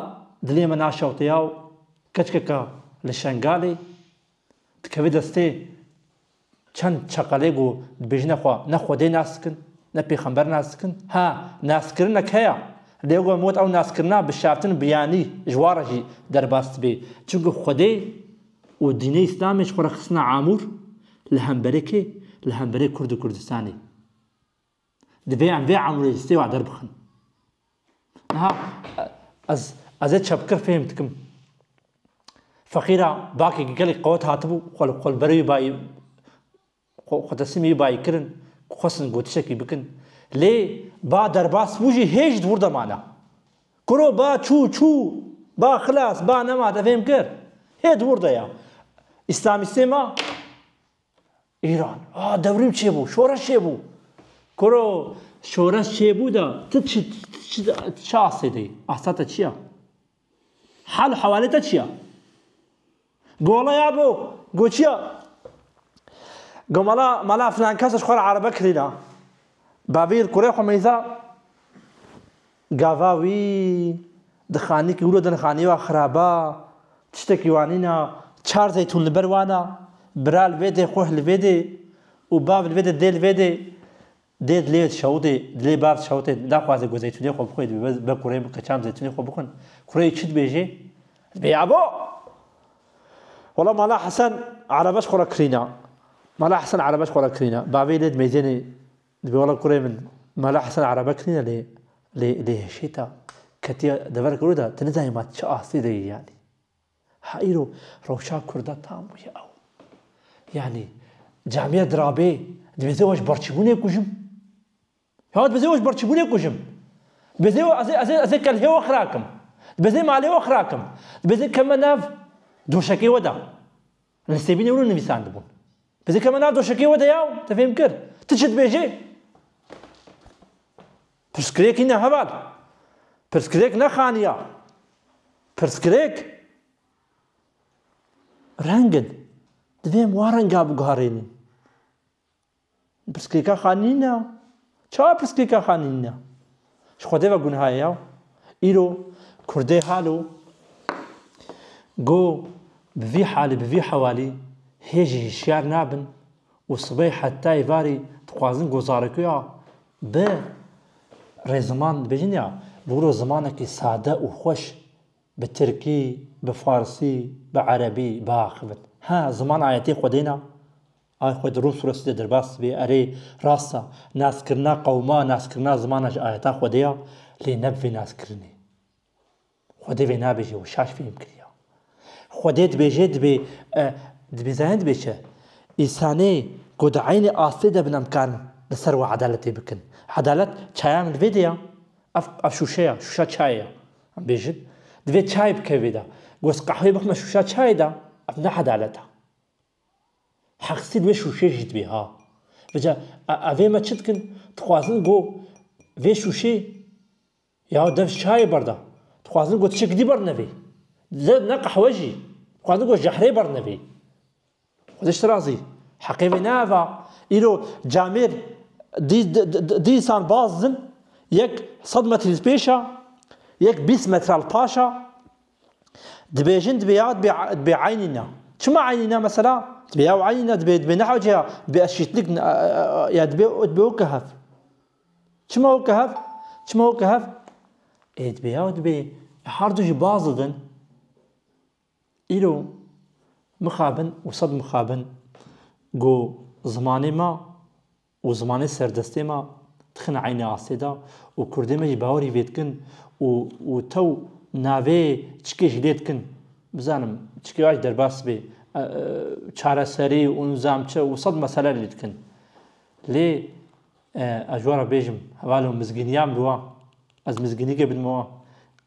dilê me naşewtiya û keçkeka li Şengalê dikeve destê çend çeqelê ku dibêjine xwe ne Xwedê nas dikin, ne Pêxember nas dikin. Ha, naskirinek heye, lê weke min got ew naskirina bi şertin biyanî ji wan re jî derbas dibe. Çimkî Xwedê. Û dînê îslamê ji xwe re xistine amûr li hemberê kê? Li hemberê Kurd û Kurdistanê. Divê em vê amûrê ji stêwa derbixin. Niha ez ez ê çepkir fêhm dikim. Feqîra bakê gelek qewet hatibû xwe li xwe li ber wî bayê Xwe teslimê wî bayê kirin ku xwestin gotişekî bikin. Lê ba derbas bû jî hê jî di wir de mane. Kuro ba çû çû, ba xilas, ba nemat ev hêm kir. Hê di wir de ye. Îslamîstê ma Îran. A dewrîm çêbû, şoreş çêbû. Kuro şoreş çêbû de ti çi ti çi ti çi astê de yî? Asta te çi ye? Hal û hewalê te çi ya? Gola ya bo, go çi ya? Go mala mala filan kes e ji xwe re erebe kirîn a. Bavî li kurê xwe meysa gava wî di xanîkî wilo din xanî wa xirab a, tiştekî wa nîn a, çar zeytûn li ber wan a, bira li vê dê, xweh li vê dê û bav li vê dê, dê li vê dê. Dê dilê şewitê, dilê bard şewitê naxwaze ku zeytûnê xwe bixwe dibê be kurê bike çand zeytûnê xwe bixwin. Kurê çi dibêjê? Dibê ya bo! Wala Mala Hesen erebeş xwe re kirîna. Mala Hesen erebeş xwe re kirîna. Bavê lê dimejêne dibê wala kurê min Mala Hesen erebe kirîna lê lê lê hişêta ketiya deverek û da tu nizanî ma çi astê de yê yanî. Ha îro rewşa Kurda tam bûye ew. Yanî camiya dirabê dibêje weş berçîbûnê kujim. Ya dibêje weş berçîbûnê kujim. Dibêje ez ê ez ê ez ê kelhê we xirakim. Dibêje malê we xirakim. Dibêje keme nav doşekê we de. Li sêbînê hûn nivîsandibûn. Bi dikeme nav doşekê we de ya û te fêm kir. Ti çi dibêjî? Pirsgirêk hîn e heval. Pirsgirêk ne xaniya. Pirsgirêk rengin. Divê em wa renga biguherînin. Pirsgirêka xwe nîne ya. Çawa pirsgirêka xwe nîne ya? Ji Xwedê ve gunha ye ya. Îro Kurdê halo go bi vî halî bi vî hewalî hê jî hişyar nabin û sibê heta êvarî dixwazin go zarekuya bi rê ziman dibêjin ya. Bi wilo zimanekî sade û xweş bi tirkî, bi farsî, bi erebî biaxivin. Ha ziman ayetê Xwedê ne. Ay xwe di Rûs Rûsî de derbas dibe, erê, rast e, naskirina qewma, naskirina zimana ji ayeta Xwedê ye, lê ne bi vê naskirinê. Xwedê vê nabêje û şaş fêm kiriye. Xwedê dibêje dibê, dibê zayin dibê çi? Îsanê ku di eynî astê de bin em karin li ser wan edaletê bikin. Edalet çaya min vê de ye. Ev ev şûşe ye, şûşa çayê ye. Em bêjin, divê çay bike vê de. Goz qehwê bixme şûşa çayê de, ev ne edalet e. Heqsî vê şûşê jî dibê ha. Rica evê me çi dikin? Dixwazin ku vê şûşê ya dev çayê berda. Dixwazin ku tişek dî bernevê. Zed ne qehwe jî. Dixwazin ku jehrê bernevê. Xwedê ji te razî. Heqê vê ne ev a. Îro camêr dî dî însan baz din. Yek sed metrî li pêş a, yek bîst metre li paş a. Dibêjin dibê ya dibê dibê eynî ne. Çima eynî ne mesela? Dibê ya eynî ne dibê dibê neha cêya dibê eşîtlik ya dibê dibê weke hev. Çima weke hev? Çima weke hev? Ê dibê ya dibê her du jî baz didin. Îro mixabin û sed mixabin ku zimanê me Û zimanê serdestê me dixine eynê astê de û kurdê me jî bawerî vê dikin û û tew navê çikê jî lê dikin. Bizanim çikê wa jî derbas bê çareserî û nizam çi û sed mesele lê dikin. Lê ez ji we re bêjim hevalên mizgîniya mirovan ez mizgînîgê bidim we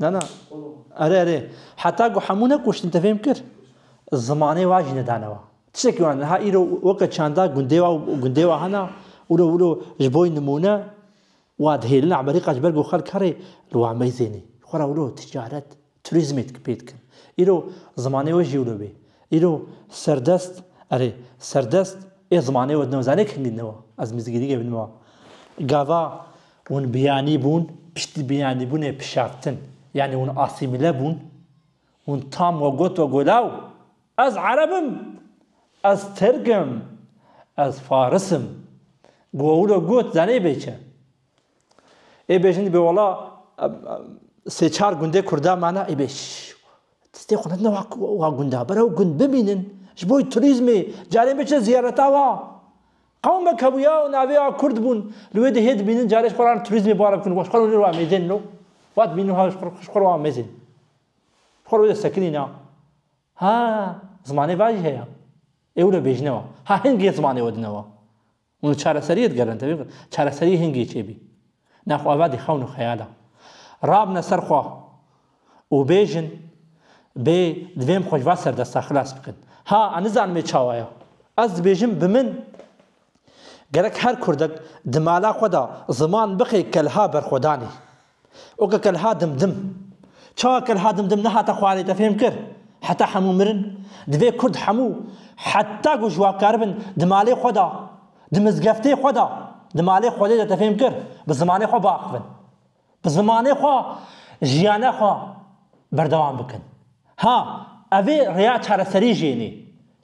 Na na. Erê erê. Heta ku hemû nekuştin te fêm kir. Zimanê wa jî nedane we. Tiştekî wan niha îro weke çanda gundê wa û gundê wa hene û îro wilo ji bo nimûne wa dihêlin Amerîka ji ber ku xelk herê li wan meyzênê xwe re wilo ticaret, turîzmê pê dikin. Îro zimanê we jî wilo bê. Îro serdest erê serdest ê zimanê we dine we zanê kengî dine we. Ez mizgînî ge bînime we. Gava Hûn biyanî bûn, piştî biyanîbûnê pişaftin, yanî hûn asîmîle bûn. Hûn tam we got we golaw, ez ereb im, ez tirk im, ez faris im. Gowilo got zanê bê çi. Ê bê jin dibê wala sê çar gundê kurda mane ê bê stê xwe nedine wa gunda. Bere ew gund bimînin. Ji bo turîzmê carên biçin ziyareta wa. Qewmek hebûya û navê a Kurd bûn, li wê dihê dibînin carê ji xwe re turîzmê bar bikin û ji xwe re hûnê û amêzên no va dibînin û ji xwe re amêzên ji xwe re wê destekinî na ha zimanê va jî heye. Ê wilo bêjine wa ha hingê zimanê we dine wa û li çareseriyê digerine tevî, çareseriyê hingê çêbî. Na xwe vadî xewn û xeyala. Rabne ser xwe û bêjin, Bê divê em xwe ji va serdesta xilas bikin. Ha, ez nizanim ê çawa ye. Ez dibêjim bi min gerek her kurdek di mala xwe de ziman bixê kelha berxwedanê. Oke kelha dimdim. Çawa kelha dimdim nehate xwarê te fêm kir? Heta hemû mirin? Divê kurd hemû heta ku ji wa kar bin di malê xwe de Di mizgeftê xwe de, di malê Xwedê de te fêm kir bi zimanê xwe biaxivin. Bi zimanê xwe jiyana xwe berdewam bikin. Ha, ev ê rêya çareserî jê nê.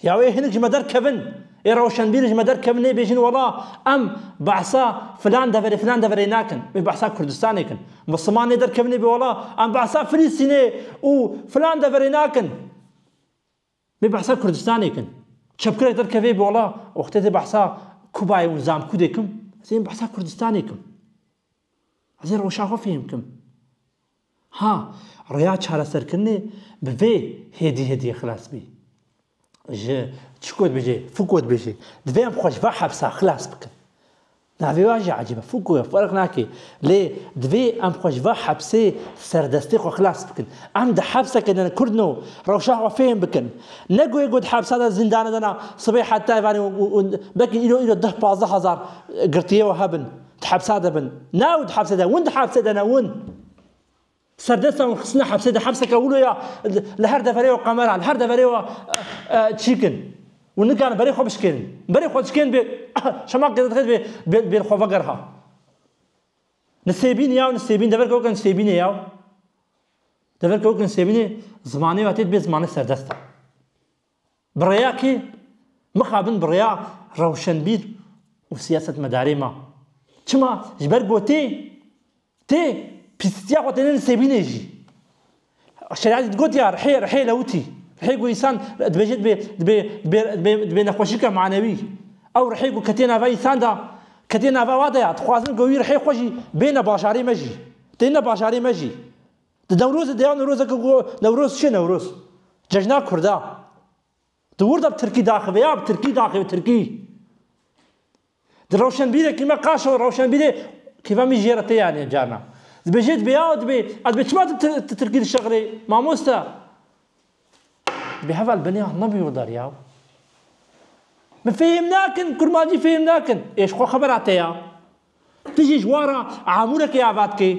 Ya wê hinek ji me derkevin, ê rewşenbîr ji me derkevin nê bêjin wela em behsa filan deverê filan deverê nakin. Em ê behsa Kurdistanê kin. Misliman nê derkevin nê bê wela em behsa Filistînê û filan deverê nakin. Bê behsa Kurdistanê kin. Çepkirek derkevê bola wextê dê behsa Kubayê û Zamkûdê kim, ez ê behsa Kurdistanê kim. Ez ê rewşa xwe fêhm kim. Ha, rêya çareserkirinê bi vê hêdî hêdiyê xilas bî. Ji çiko dibêjê, Foucault dibêjê, divê em xwe ji van hepsa xilas bikin. Navê wan jî ecîb e, Foucault ye, ferq nake. Lê divê em xwe ji van hepsê serdestê xwe xilas bikin. Em di hepseke de ne Kurd ne û rewşa xwe fêm bikin. Ne guhê ku di hepsa de zîndanê de na sibê heta evanê û belkî îro îro deh pazdeh hezar girtiyê we hebin, di hepsa de bin. Na û di hepsê de win di hepsê de ne win. Serdesta û xistina hepsê di hepseke wilo ya li her deverê wa qemera, li her deverê wa çîk in û nikarin berê xwe bişkêrin. Berê xwe dişkên bê şema qêzedixê divê bêr xwe vegerha. Li Sêbîn ya û li Sêbîn deverke weke li Sêbînê ya deverke weke li Sêbînê zimanê wa tê dibê zimanê serdesta. Bi rêya kê? Mixabin bi rêya rewşenbîr û siyasetmedarê me. Çima? Ji ber ku tê, tê, pîstiya xwe têne li Sêbînê jî. Şeriatê digotiya rihê, rihê lewitî. Rihê ku însan dibêje dibê, dibê, dibê, dibê, dibê nexweşîka manewî. Ew rihê ku ketiye nava însan de, ketiye nava wa de ya. Dixwazin ku wî rihê xwe jî bêne bajarê me jî. Têne bajarê me jî. Di Newrozê de ya Newrozeke ku Newroz çi ye Newroz? Cejna kurd a. Di wir de bi tirkî daxive ya bi tirkî daxive tirkî. Di rewşenbîrekî me qaşewe rewşenbîrê kêfa min jê re tê yanê carna. Dibêje dibê ya dibê ez dibê çima tu tirkî dişeqirê mamoste? Dibê heval benê ya nebê werdar ya. Min fêhm nakin kurmancî fêhm nakin. Ê ji xwe xebera te ya. Tu jî ji wara amûrekê avatke.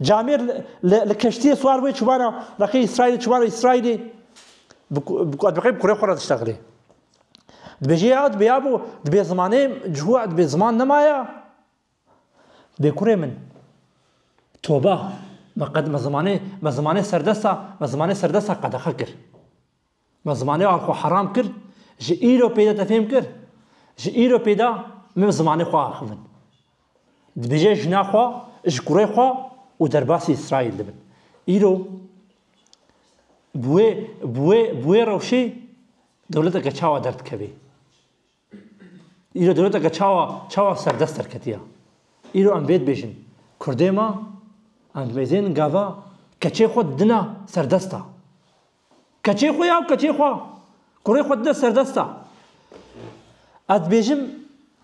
Camêr li keştiyê swar wê çivana reqê Îsraîlê çivana Îsraîlê diqê bi kurê xwe re diştexilê. Dibêje ya dibê ya bo dibê zimanê ji xwe dibê ziman nemaya bê kurê min toba me qed me zimanê me zimanê serdesta me zimanê serdesta qedexe kir. Me zimanê wan xwe heram kir, ji îro pêde te fêm kir, ji îro pêde min zimanê xwe axivin. Dibêje jina xwe ji kurê xwe û derbasî Îsraîl dibin. Îro bi wê bi wê bi wê rewşê dewleteke çawa derdikevê? Îro dewleteke çawa çawa serdest derketiya. Îro em vê dibêjin, Kurdê ma, em dimezên gava keçê xwe didina serdesta. Keçê xwe ya û keçê xwe, kurê xwe didina serdesta. Ez dibêjim,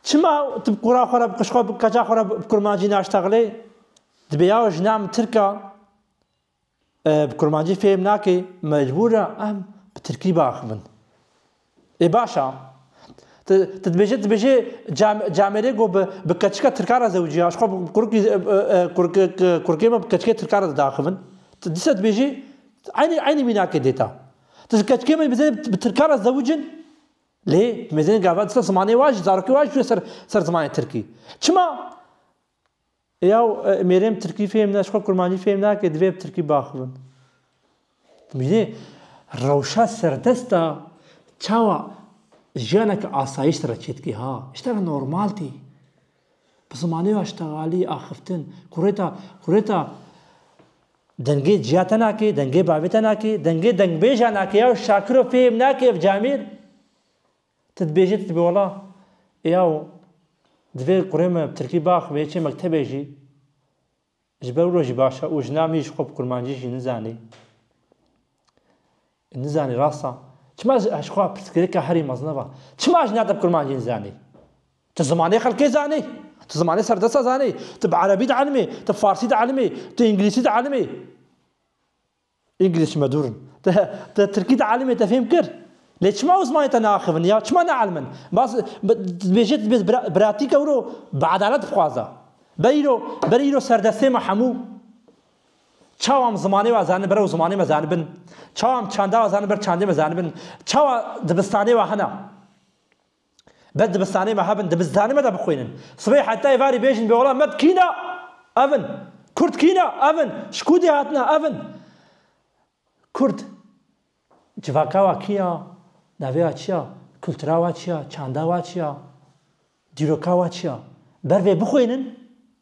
çima tu bi kura xwe re, bi qij xwe, bi keça xwe re bi kurmancî naştexilê? Dibê ya jina min tirk a, Bi kurmancî fêm nake mecbûr e em bi tirkî biaxivin. Ê baş a. Ti ti dibêje dibêje camêrê ku bi bi keçika tirkan re zewicî ya ji xwe bi kurikî kurikê me bi keçikê tirkan re dide axivin. Ti dîsa dibêjî eynî eynî mînakê dê ta. Ti ji keçikê me bizê bi tirkan re zewic in lê mêzenê gavan dîsa zimanê wan jî zarokê wan jî çûye ser ser zimanê tirkî. Çima? Yaw mêrê min tirkî fêm ne ji xwe kurmancî fêm nake divê bi tirkî biaxivin. Dibînî rewşa serdest a çawa jiyaneke asayîş te re çêdikê ha. Ji te re normal tê. Bi zimanê wê ya ji tevalî axiftin kurêta kurêta dengê ciya te nake, dengê bavê te nake, dengê dengbêjan nake yaw şakiro fêm nake ev camêr. Ti dibêjî ti dibî wala yaw divê kurê min bi tirkî bax vê yekê mektebê jî ji ber wilo jî baş e û ji nav nî ji xwe bi kurmancî jî nizanî nizanî rast a çima ji ji xwe pirsgirêka herî mezin eva çima ji nav te bi kurmancî nizanî ti zimanê xelkê zanî ti zimanê serdesta zanî ti bi erebî dielmî ti bi farsî dielmî ti îngilîsî dielmî English me dûr in. Te te tirkî di elmê te fêm kir. Lê çima Osmanî te neaxivin ya çima neelmin? Bas dibêje tu dibê bira biratîk ewro bi edalet bixwaza. Ber îro ber îro serdestê me hemû çawa em zimanê we zanibin ber ew zimanê me zanibin. Çawa em çanda we zanibin ber çandê me zanibin. Çawa dibistanê we hene. Bes dibistanê me hebin, dibistanê me de bixwînin. Sibê hetayê varî bêjin bê ola med kîn a? Ev in. Kurd kîn a? Ev in. Ji kû dê hatine? Ev in. Kurd civaka wa kî ya? Navê wa çi ya? Kultura wa çi ya? Çanda wa çi ya? Dîroka wa çi ya? Ber vê bixwînin,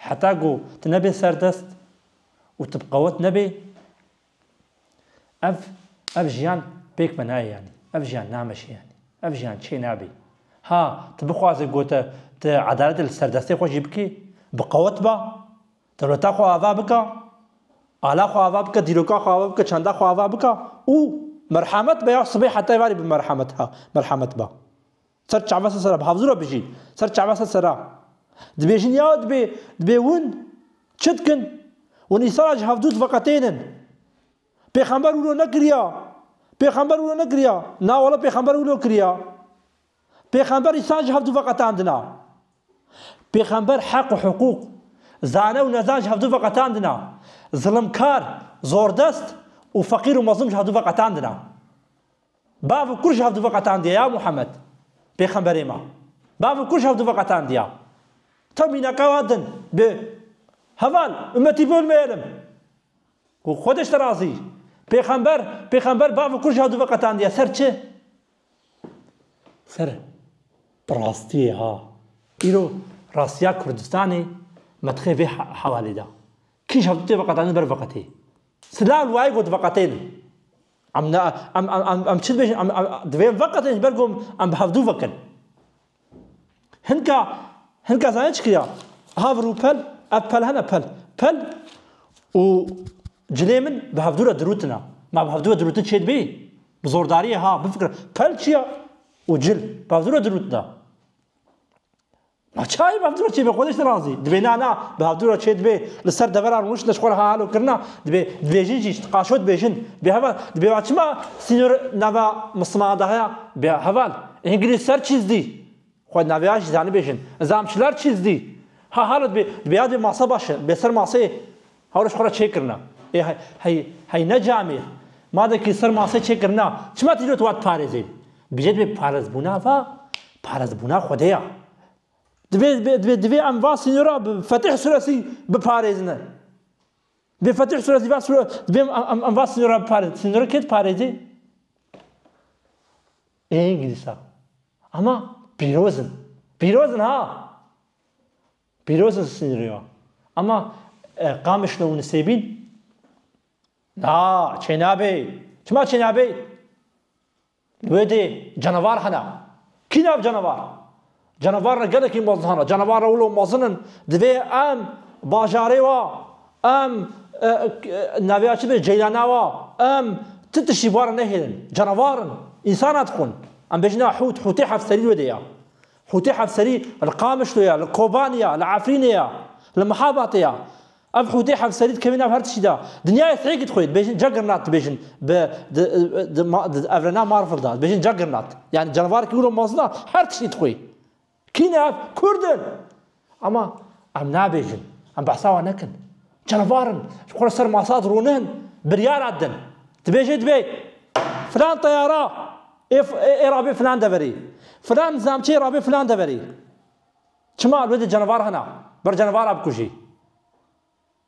Heta ku tu nebê serdest û tu bi qewet nebê ev ev jiyan pêk ve nayê yanî ev jiyan nameşe yanî ev jiyan çê nabê. Ha tu bixwazî ku te tu edaletê li serdestê xwe jî bikî bi qewet be dewleta xwe ava bike ala xwe ava bike dîroka xwe ava bike çanda xwe ava bike û merhemet be ya sibê heta êvarê bi merhemet ha merhemet be. Ser çava se sera bi hevzû re bijîn. Ser çava se sera. Dibêjin ya dibê, dibê hûn çi dikin? Hûn îsala ji hevdû diveqetênin. Pêxember wilo nekiriya. Pêxember wilo nekiriya. Na wele pêxember wilo kiriya. Pêxember îsan ji hevdû veqetandina. Pêxember heq û hiqûq, zane û nezan ji hevdû veqetandina. Zilimkar, zordest û feqîr û mezlûm ji hevdû veqetandina. Bav û kûr ji hev dû veqetandiye ya Muhammed, pêxemberê me. Bav û kûr ji hev dû veqetandiye. Taw mînaka wa din bi Heval, ummetî bol mêyelim. Û xwe de ji te razî. Pêxember, pêxember bav û kûr ji hev dû veqetandiye ser çi? Ser rastiyê ha. Îro rastiya Kurdistanê me dixe vê hewalê de. Kî ji hev dû tê veqetandin ber veqetê. Silav li wayê got veqetênin. Em ne em em em em çi dibêjin em em divê em veqetin ji ber ku em bi hevdû vekin. Hinka hinka zanîn çi kiriya? Ha vir û pel ev pel hene pel pel û cilê min bi hevdû re dirûtina. Ma bi hevdû re dirûtin çê dibî? Bi zordariyê ha bifikire. Pel çi ya? Û cil bi hevdû re dirûtina. A çayê bi hevdûra çê be xwedê ji te razî dibê na na bi hevdûra çê dibê li ser deveran rûniştina ji xwe re ha helo kirina dibê dibêjin jî ji ti qaşo dibêjin bê heval dibê va çima sînor nava mislimanan de heye bê heval îngilîz ser çîz dî xwe di navê ya jî zanibêjin zanim çilar çîz dî ha helo dibê dibê ya dibê masa baş e bê ser maseyê Hawrij xwe re çêkirina. Ê hey, hey, hey ne camê. Madekî ser masê çêkirina, çima tu îro tu wat parêzê? Bije divê parêzbûna va, parêzbûna Xwedê ya. Divê, divê, divê em va sînora bi Fetih suresî biparêzine. Divê Fetih suresî va sure, divê em, em va sînora biparêzin. Sînora kê diparêzê? Ê îngilîsa. Ama pîrozin. Pîrozin ha. Pîroz in sînrîyo. Ema Qamişlo û Nisêbîn Na, çênabê. Çima çênabê? Li wê dê canavar hene. Kî nav canavar? Canavar re gelekî mezin hene. Canavar re wilo mezin in. Divê em bajarê wa, em naviya çi bê ceylana wa, em ti tiştî ware nehêlin. Canavar in. Însan ne dixwin. Em bêjin a hût, hûtê hevserî li wê dê ya. Hûtî hevserî li Qamişlo ye, li Kobanê ye, li Efrînê ye, li Mihabatê ye. Ev hûtî hevserî dikevî nav her tiştî de. Dinyayê thêkî dixwê, dibêjin Juggernaut dibêjin bi di di di evrena Marvel de. Dibêjin Juggernaut. Yanî canavareke wilo mezin e, her tiştî dixwê. Kî ne ev? Kurd in! Ama em nabêjin, em behsa wan nekin. Canavar in, ji xwe re ser masa dirûnin, biryara didin. Dibêje dibe filan teyara ê rabê filan deverê, filan zamçê ê rabê filan deverê. Çima li wê de canavar hene, ber canavara bikujî.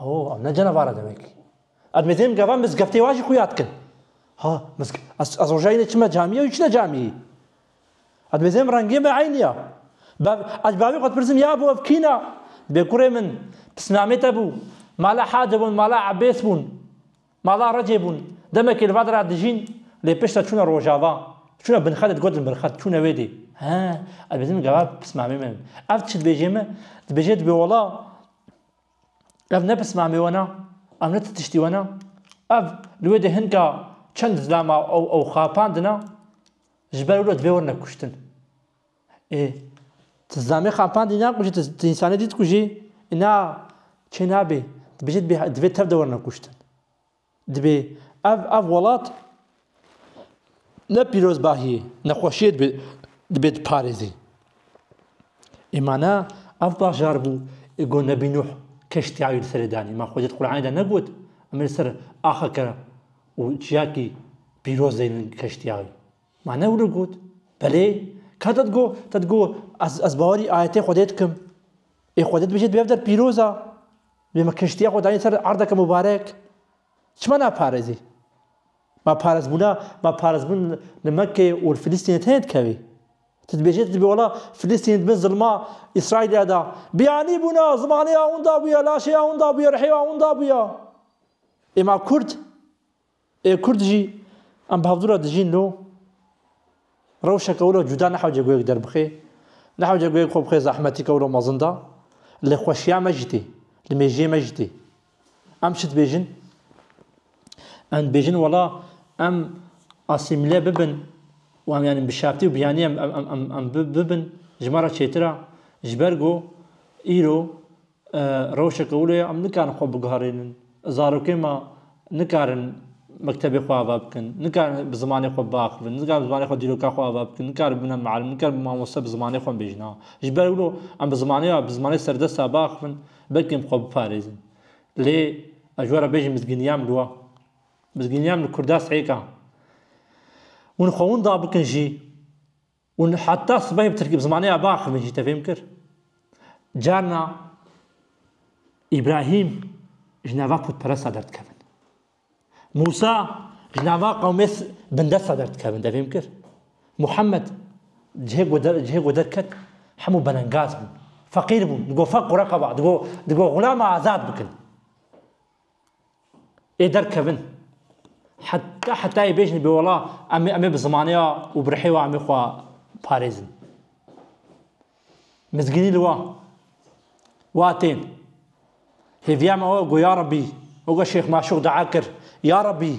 Oo, ev ne canavar e demek. Ev mêdê min gava mizgeftê wan jî xwe yad kin. Ha, mizge ez rojayî ne çime camiyê û çine camiyê. Ev mêdê min rengê me eynî ya. Bav, ez bavê xwe dipirsim ya bû ev kîn a? Dibê kurê min pisnamê te bû. Mala Hadi bûn, mala Ebês bûn. Mala Recê bûn. Demekê li Vadera dijîn lê piştre çûne Rojava. Çûne binxedê digotin binxed çûne wê dê. He, ez bêjim gava pismamê min. Ev çi dibêjê min? Dibêjê dibê wala ev ne pismamê wena, ev ne ti tiştî wena. Ev li wê dê hinka çend zilama ew xapandina, ji ber wilo dibê werine kuştin. Ê, tu zame xapan dî nakujî, tu tu însanê dî dikujî? Îna çê nabê, tu bijî dibê divê tev de werine kuştin. Dibê ev ev welat ne pîrozbahiyê, nexweşiyê dibê dibê diparêzî. Ê ma ne ev bajar bû ê got Nebî Nuh keştiya wî li serê danî. Ma Xwedî di Qur'anê de negot em ê li ser axeke û çiyakî pîroz deynin keştiya wî. Ma ne wilo got? Belê, ka te digot, te digot ez ez bawerî ayetê Xwedê dikim. Ê Xwedê dibêje di bev der pîroz a. Bê min kiştiya xwe dayîn ser erdeke mubarek. Çima naparêzî? Ma parêzbûna, ma parêzbûn li Mekkeyê û li Filistînê tenê dikevî. Tu dibêjî tu dibî wala Filistînê di bin zilma Îsraîlê de. Biyanî bûna, zimanê ya winda bûye, laşê ya winda bûye, rihê ya winda bûye. Ê ma kurd? Ê Kurd jî em bi hevdû re dijîn lo rewşeke wilo cuda nehewce goyek derbixê, nehewce goyek xwe bixê zehmetî ke wilo mezin da, li xweşiya me jî tê, li mêjiyê me jî tê. Em çi dibêjin? Em dibêjin wela em asîmîle bibin û em yanî bi şertî û bi yanî em em em bibin ji me re çêtir e ji ber ku îro Rewşeke wilo ye em nikarin xwe biguherînin. Zarokên me nikarin mektebê xwe ava bikin, nikarin bi zimanê xwe biaxivin, nikarin bi zimanê xwe dîroka xwe ava bikin, nikarin bibîne miallim, nikarin bibîne mamoste bi zimanê xwe bêjin. Ha ji ber wilo em bi zimanê ve, bi zimanê serdest ve biaxivin belkî em xwe biparêzin. Lê ez ji we re bêjim mizgîniya min wa, mizgîniya min li Kurda sihêka. Hûn xwe winda bikin jî Ûn heta sibehê bi tirkî bi zimanê ya biaxivin jî tevêm kir. Carna Îbrahîm ji nava pûtperesta derdikevin. Mûsa ji nava qewmê bindesta derdikevin tevêm kir. Muhammed cihê ku der cihê ku derket hemû belengaz bûn. Feqîr bûn, digot feq qura qeba, digot digot xulama azad bikin. Ê derkevin. Heta hetayê bêjin bêwala em em ê bi zimaneya û bi rihê we em ê xwe parêzin. Mizgînî li wa. Wa tên. Hêviya me we got ya Rebî. Weke Şêx Maşûq dua kir. Ya Rebî.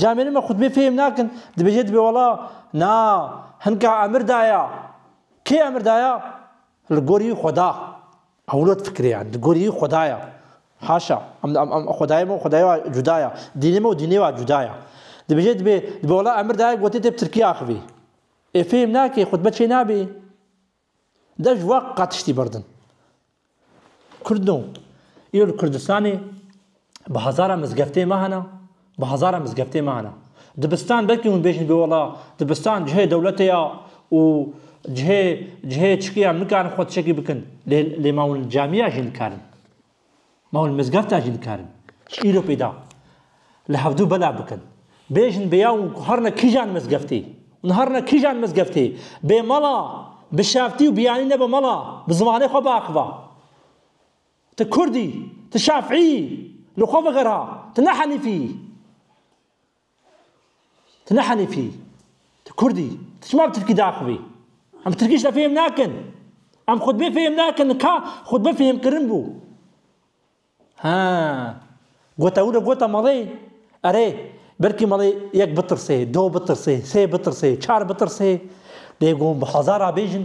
Camêrên me xutbê fêhm nakin, dibêje dibê wela, na, hinka emir daya. Kê emir daya? Li gorî Xweda. Ewlod fikirê yan, li gorî Xweda ya. Haşa, em em em Xwedayê me û Xwedayê wa cuda ya, dînê me û dînê wa cuda ya. Dibêje dibê, dibê wela emir daya gotê tê bi tirkî axivî. Ê fêhm nakê, xutbe çênabî. De ji wan qat tiştî berdin. Kurd no. Îro li Kurdistanê bi hezaran mizgeftê me hene, bi hezaran mizgeftê me hene. Dibistan belkî hûn bêjin bê wela dibistan cihê dewletê ya û cihê cihê çikiyan nikarin xwe tişekî bikin lê lê ma hûn li camiya jî nikarin. Mal mizgefta jî dikarin ji îro pêda li hevdu bela bikin. Bêjin bêya û harina kîjan mizgeftê û harina kîjan mizgeftê bê mala bi şaftî û biyanî nebe mala bi zimanê xwe biaxiva. Ti Kurd î, ti Şafîî î, li xwe vegera, ti ne Henîfî î. Tu ne Henîfî î. Tu Kurd î. Tu çima bi tirkî diaxivî? Em bi tirkî ji te fêhm nakin. Em xutbê fêhm nakin. Li ka xutbe fêhmkirin bû. Ha. Gota wilo gota malê. Erê, belkî malê yek bitirsê, do bitirsê, sê bitirsê, çar bitirsê. Dê gon bi hezar a bêjin.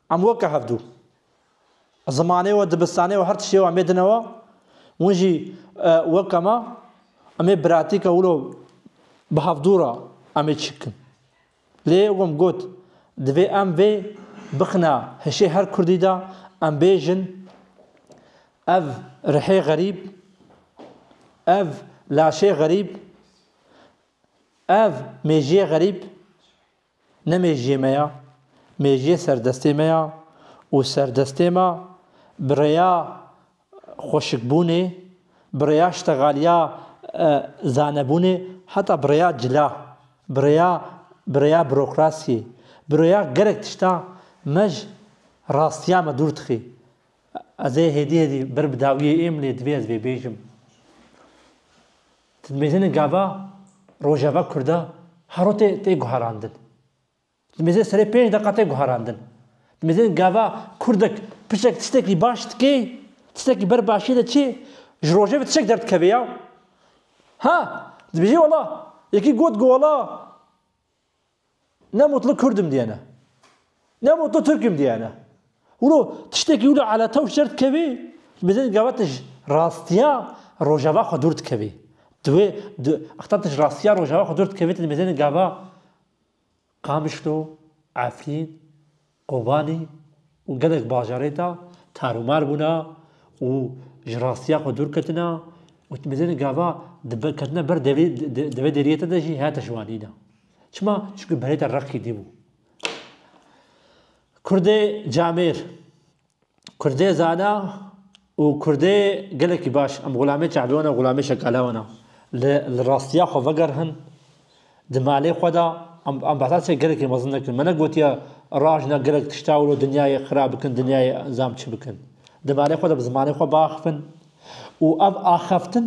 Em weke hevdu. Zimanê we, dibistanê we, her tiştê we em ê dine we. Win jî weke me. Em ê biratîka wilo bi hevdu re em ê çî bikin. Lê wê wan got, divê em vê bixine hişê her Kurdî de, em bêjin ev rihê xerîb, ev laşê xerîb, ev mêjiyê xerîb, Ne mêjiyê me ya, mêjiyê serdestê me ya û serdestê me bi rêya xweşikbûnê, bi rêya ştegaliya zanebûnê heta bi rêya cila, bi rêya bi rêya bürokrasiyê, bi rêya gelek tişta me ji rastiya me dûr dixê. Ez ê hêdî hêdî ber bi dawiyê êm lê divê ez vê bêjim. Di mêzenê gava Rojava Kurda haro tê tê guherandin. Di mêzenê serê pênc deqa tê guherandin. Di mêzenê gava Kurdek pirsek tistekî baş dikê, tistekî ber başiyê de çê, ji rojevê tişek derdikeve ya. Ha! Dibêjê wela, yekî got ku wela, Ne mutlu Kurd im diyene. Ne mutlu Türk im diyene. Wilo tiştekî wilo eletew şer dikevî bi zêde gavete ji rastiya rojava xwe dûr dikevî. Diwê exta tu ji rastiya rojava xwe dûr dikevî tu dibêjene gava Qamişlo, Efrîn, Kobanî gelek bajarên de tarûmar bûna û ji rastiya xwe dûr ketine û timîzên gava ketine ber devê deriyete de jî hate şivanîna. Çima? Çimkî berê te reqî dî bû. Kurdê camêr. Kurdê zana û Kurdê gelekî baş em xulamê çavê wan e xulamê şekale wan e. Li li rastiya xwe vegerihin di malê xwe de em em behsa çê gelekî mezin nekin. Me negotiye rajina gelek tişta wilo dinyayê xirab bikin dinyayê zam çi bikin. Di malê xwe de bi zimanê xwe biaxivin û ev axeftin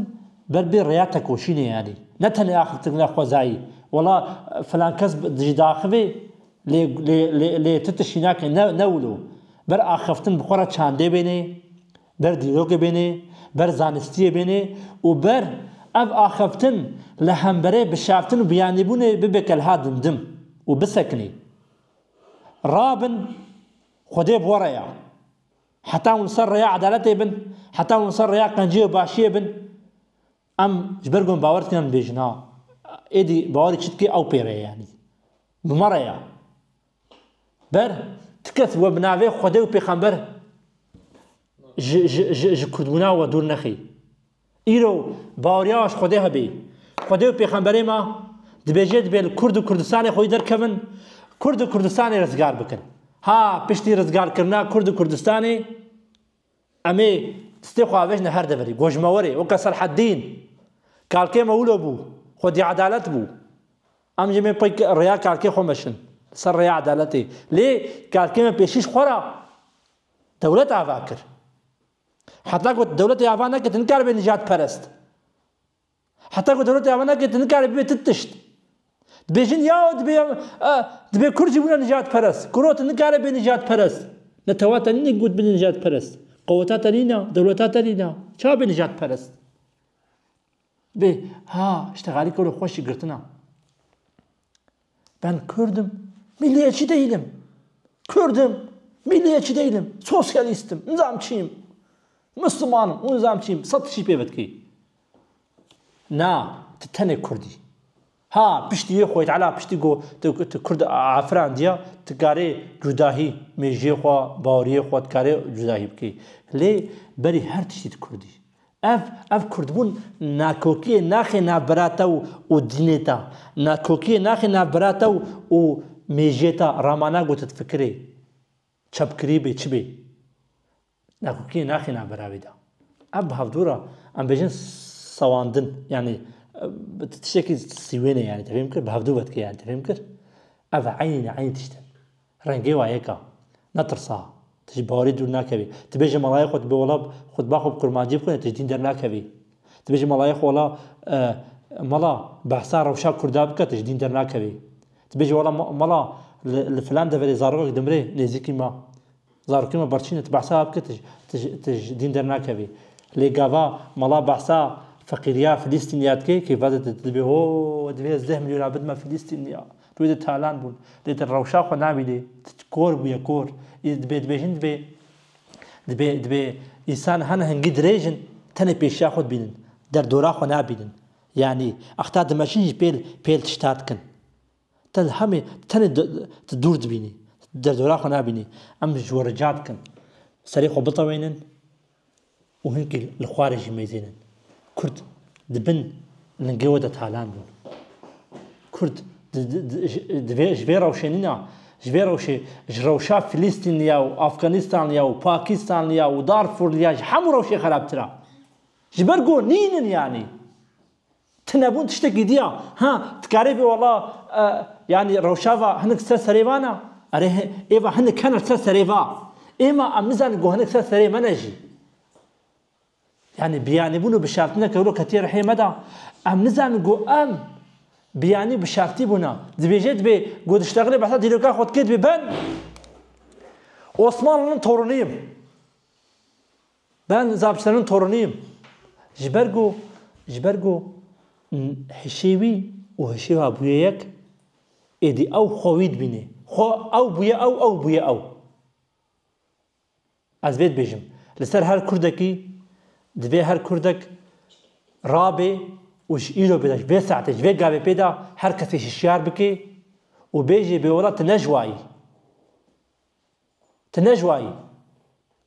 ber bê rêya tekoşînê yanî ne tenê axiftin xwezayî wela filankes dijî diaxivê Lê lê lê lê tu tiştî nake ne ne wilo. Ber axiftin bi xwe re çandê bênê, ber dîrokê bênê, ber zanistiyê bênê û ber ev axiftin li hemberê bişeftin û biyanîbûnê bibe kelha dimdim û bisekinî. Rabin Xwedê bi we re ya. Heta hûn li ser rêya edaletê bin, heta hûn li ser rêya qenciyê û başiyê bin. Em ji ber ku em bawer dikin em dibêjin a êdî bawerê çi dike ew pê re ye yanî. Bi me re ye. Ber ti kes we bi navê Xwedê û Pêxember ji ji ji ji Kurdbûna we dûr nexî. Îro baweriya ji Xwedê hebê. Xwedê û Pêxemberê me dibêje dibê li Kurd û Kurdistanê xwedî derkevin, Kurd û Kurdistanê rizgar bikin. Ha piştî rizgarkirina Kurd û Kurdistanê Em ê stê xwe avêjin her deverê, gojmewerê weke Selheddîn. Kalkê me wilo bû, xwedî edalet bû. Em jî mê pey rêya kalkê xwe meşin, li ser rêya edaletê. Lê kalkê me pêşî ji xwe re dewlet ava kir. Heta ku dewletê ava nekir tu nikare bibî nijadperest. Heta ku dewleta ya me nake tu nikarî bibê tu tişt. Dibêjin yaw dibê dibê kurd jî bûne nijadperest. Kuro tu nikare bê nijadperest. Netewa te nîne got bine nijadperest. Qeweta te nîne, dewleta te nîne. Çawa bê nijadperest? Bê ha îştixalî kuro xweş jî girtina. Ben Kurd im, milliyetçi değilim. Kurd im, milliyetçi değilim. Sosyalistim, nizamçıyım. Müslümanım, o nizamçıyım. Sat çi pê bitkî. Na, tu tenê Kurdî. Ha, piştî yê xwe ala piştî got tu Kurd afirandiya, tu karê cudahî mêjiyê xwe, baweriyê xwe tu karê cudahî bikî. Lê berî her tiştî tu Kurdî. Ev, ev kurdbûn nakokiyê naxê nav bira te û dînê te, nakokiyê naxê nav bira te û mêjiyê te, ramana gotit fikirê çepkirî bê çi bê, nakokiyê naxê nav bira wî de. Ev bi hevdû re em bêjin sewandin yanî tiştekî sîwêne yanî te fêm kir bi hevdû ve dike yanî te fêm kir ev eynî eynî tişt in. Rengê wa yek a. Netirsa. Tu ji bawerî dûr nakevî. Tu bêje malayê xwe, tu bê wala xutba xwe bi kurmancî bixwîne, tu ji dîn dernakevî. Tu bêje malayê xwe wala mala behsa rewşa kurda bike, tu ji dîn dernakevî. Tu bêje wala mala li filan deverê zarokek dimire nêzîkî me, zarokê me birçîn e, tu behsa wan bike, tu ji dîn dernakevî. Lê gava mala behsa feqîriya Filîstîniya dike, kêfa dide, tu dibê ho, divê ez deh milyonan bidime Filîstîniya. Tu dê talan bûn. Dê tu rewşa xwe nabînî. Tu kor bûye kor. Î dibê dibêjin dibê dibê dibê însan hene hingî dirêj in tenê pêşiya xwe dibînin. Derdora xwe nabînin. Yanî exta dimeşin jî pêl pêl tişta dikin. Te li hemê tu tenê tu dûr dibînî. Derdora xwe nabînî. Em ji we rica dikin. Serê xwe bitewênin. û hinkî li xwarê jî mêzên in. Kurd di bin lingê we de talan bûn. Kurd ji vê rewşenîna, ji vê rewşê, ji rewşa Filîstînliya û Afganîstanliya û Pakîstanliya û Darfûrliya ji hemû rewşê xerabtir a. Ji ber ku nînin yanî. Tunebûn tiştekî diya. Ha, dikarê bê wela yanî rewşava hinek li ser serê van e. Erê hê, êva hinek hene li ser serê va. Ê ma em nizanin ku hinek li ser serê me ne jî. Yanî biyanîbûn û bişartineke wilo ketiye rihê me de. Em nizanin ku em biyanî û bişartî bûne. Dibêje dibê ku dişlexile behsa dîroka xwe dike dibê ben Osmanlinin toruniyim. Ben Zapçerin Torunî yim. Ji ber ku ji ber ku hişê wî û hişê wa bûye yek, êdî ew xwe wî dibînê. Xwe ew bûye ew, ew bûye ew. Ez vê dibêjim. Li ser her Kurdekî divê her Kurdek rabê û ji îro bêde, ji vê saetê, ji vê gavê pê de her kesî hişyar bike û bêje bêwela tu ne ji wa yî. Tu ne ji wa yî.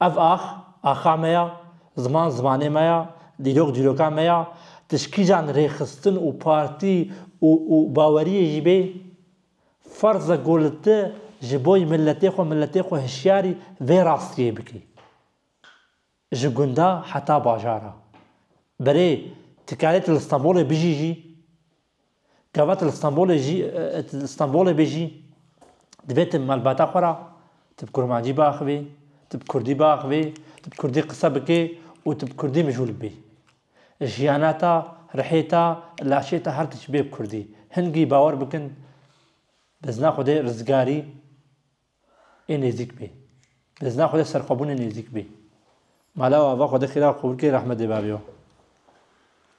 Ev ax, axa me ya, ziman zimanê me ya, dîrok dîroka me ya, tişkîjan rêxistin û partî û û baweriyê jî bê, ferz e ku li tu ji bo yî miletê xwe miletê xwe hişyarî vê rastiyê bikî. Ji gunda heta bajara. Berê, ti karê tu li Stenbolê bijî jî? Gava tu li Stenbolê jî, tu li Stenbolê bê jî, divê tu malbata xwe re tu bi kurmancî biaxivî, tu bi kurdî biaxivî, tu bi kurdî qise bikî û tu bi kurdî mijûl bibî. Jiyana te, rihê te, laşê te her tişt bê bi kurdî. Hingî bawer bikin bizna Xwedê rizgarî ê nêzîk bê. Bizna Xwedê serxwebûnê nêzîk bê. Mala ava Xwedê xîra xwe bikê rehmet dê babiyo.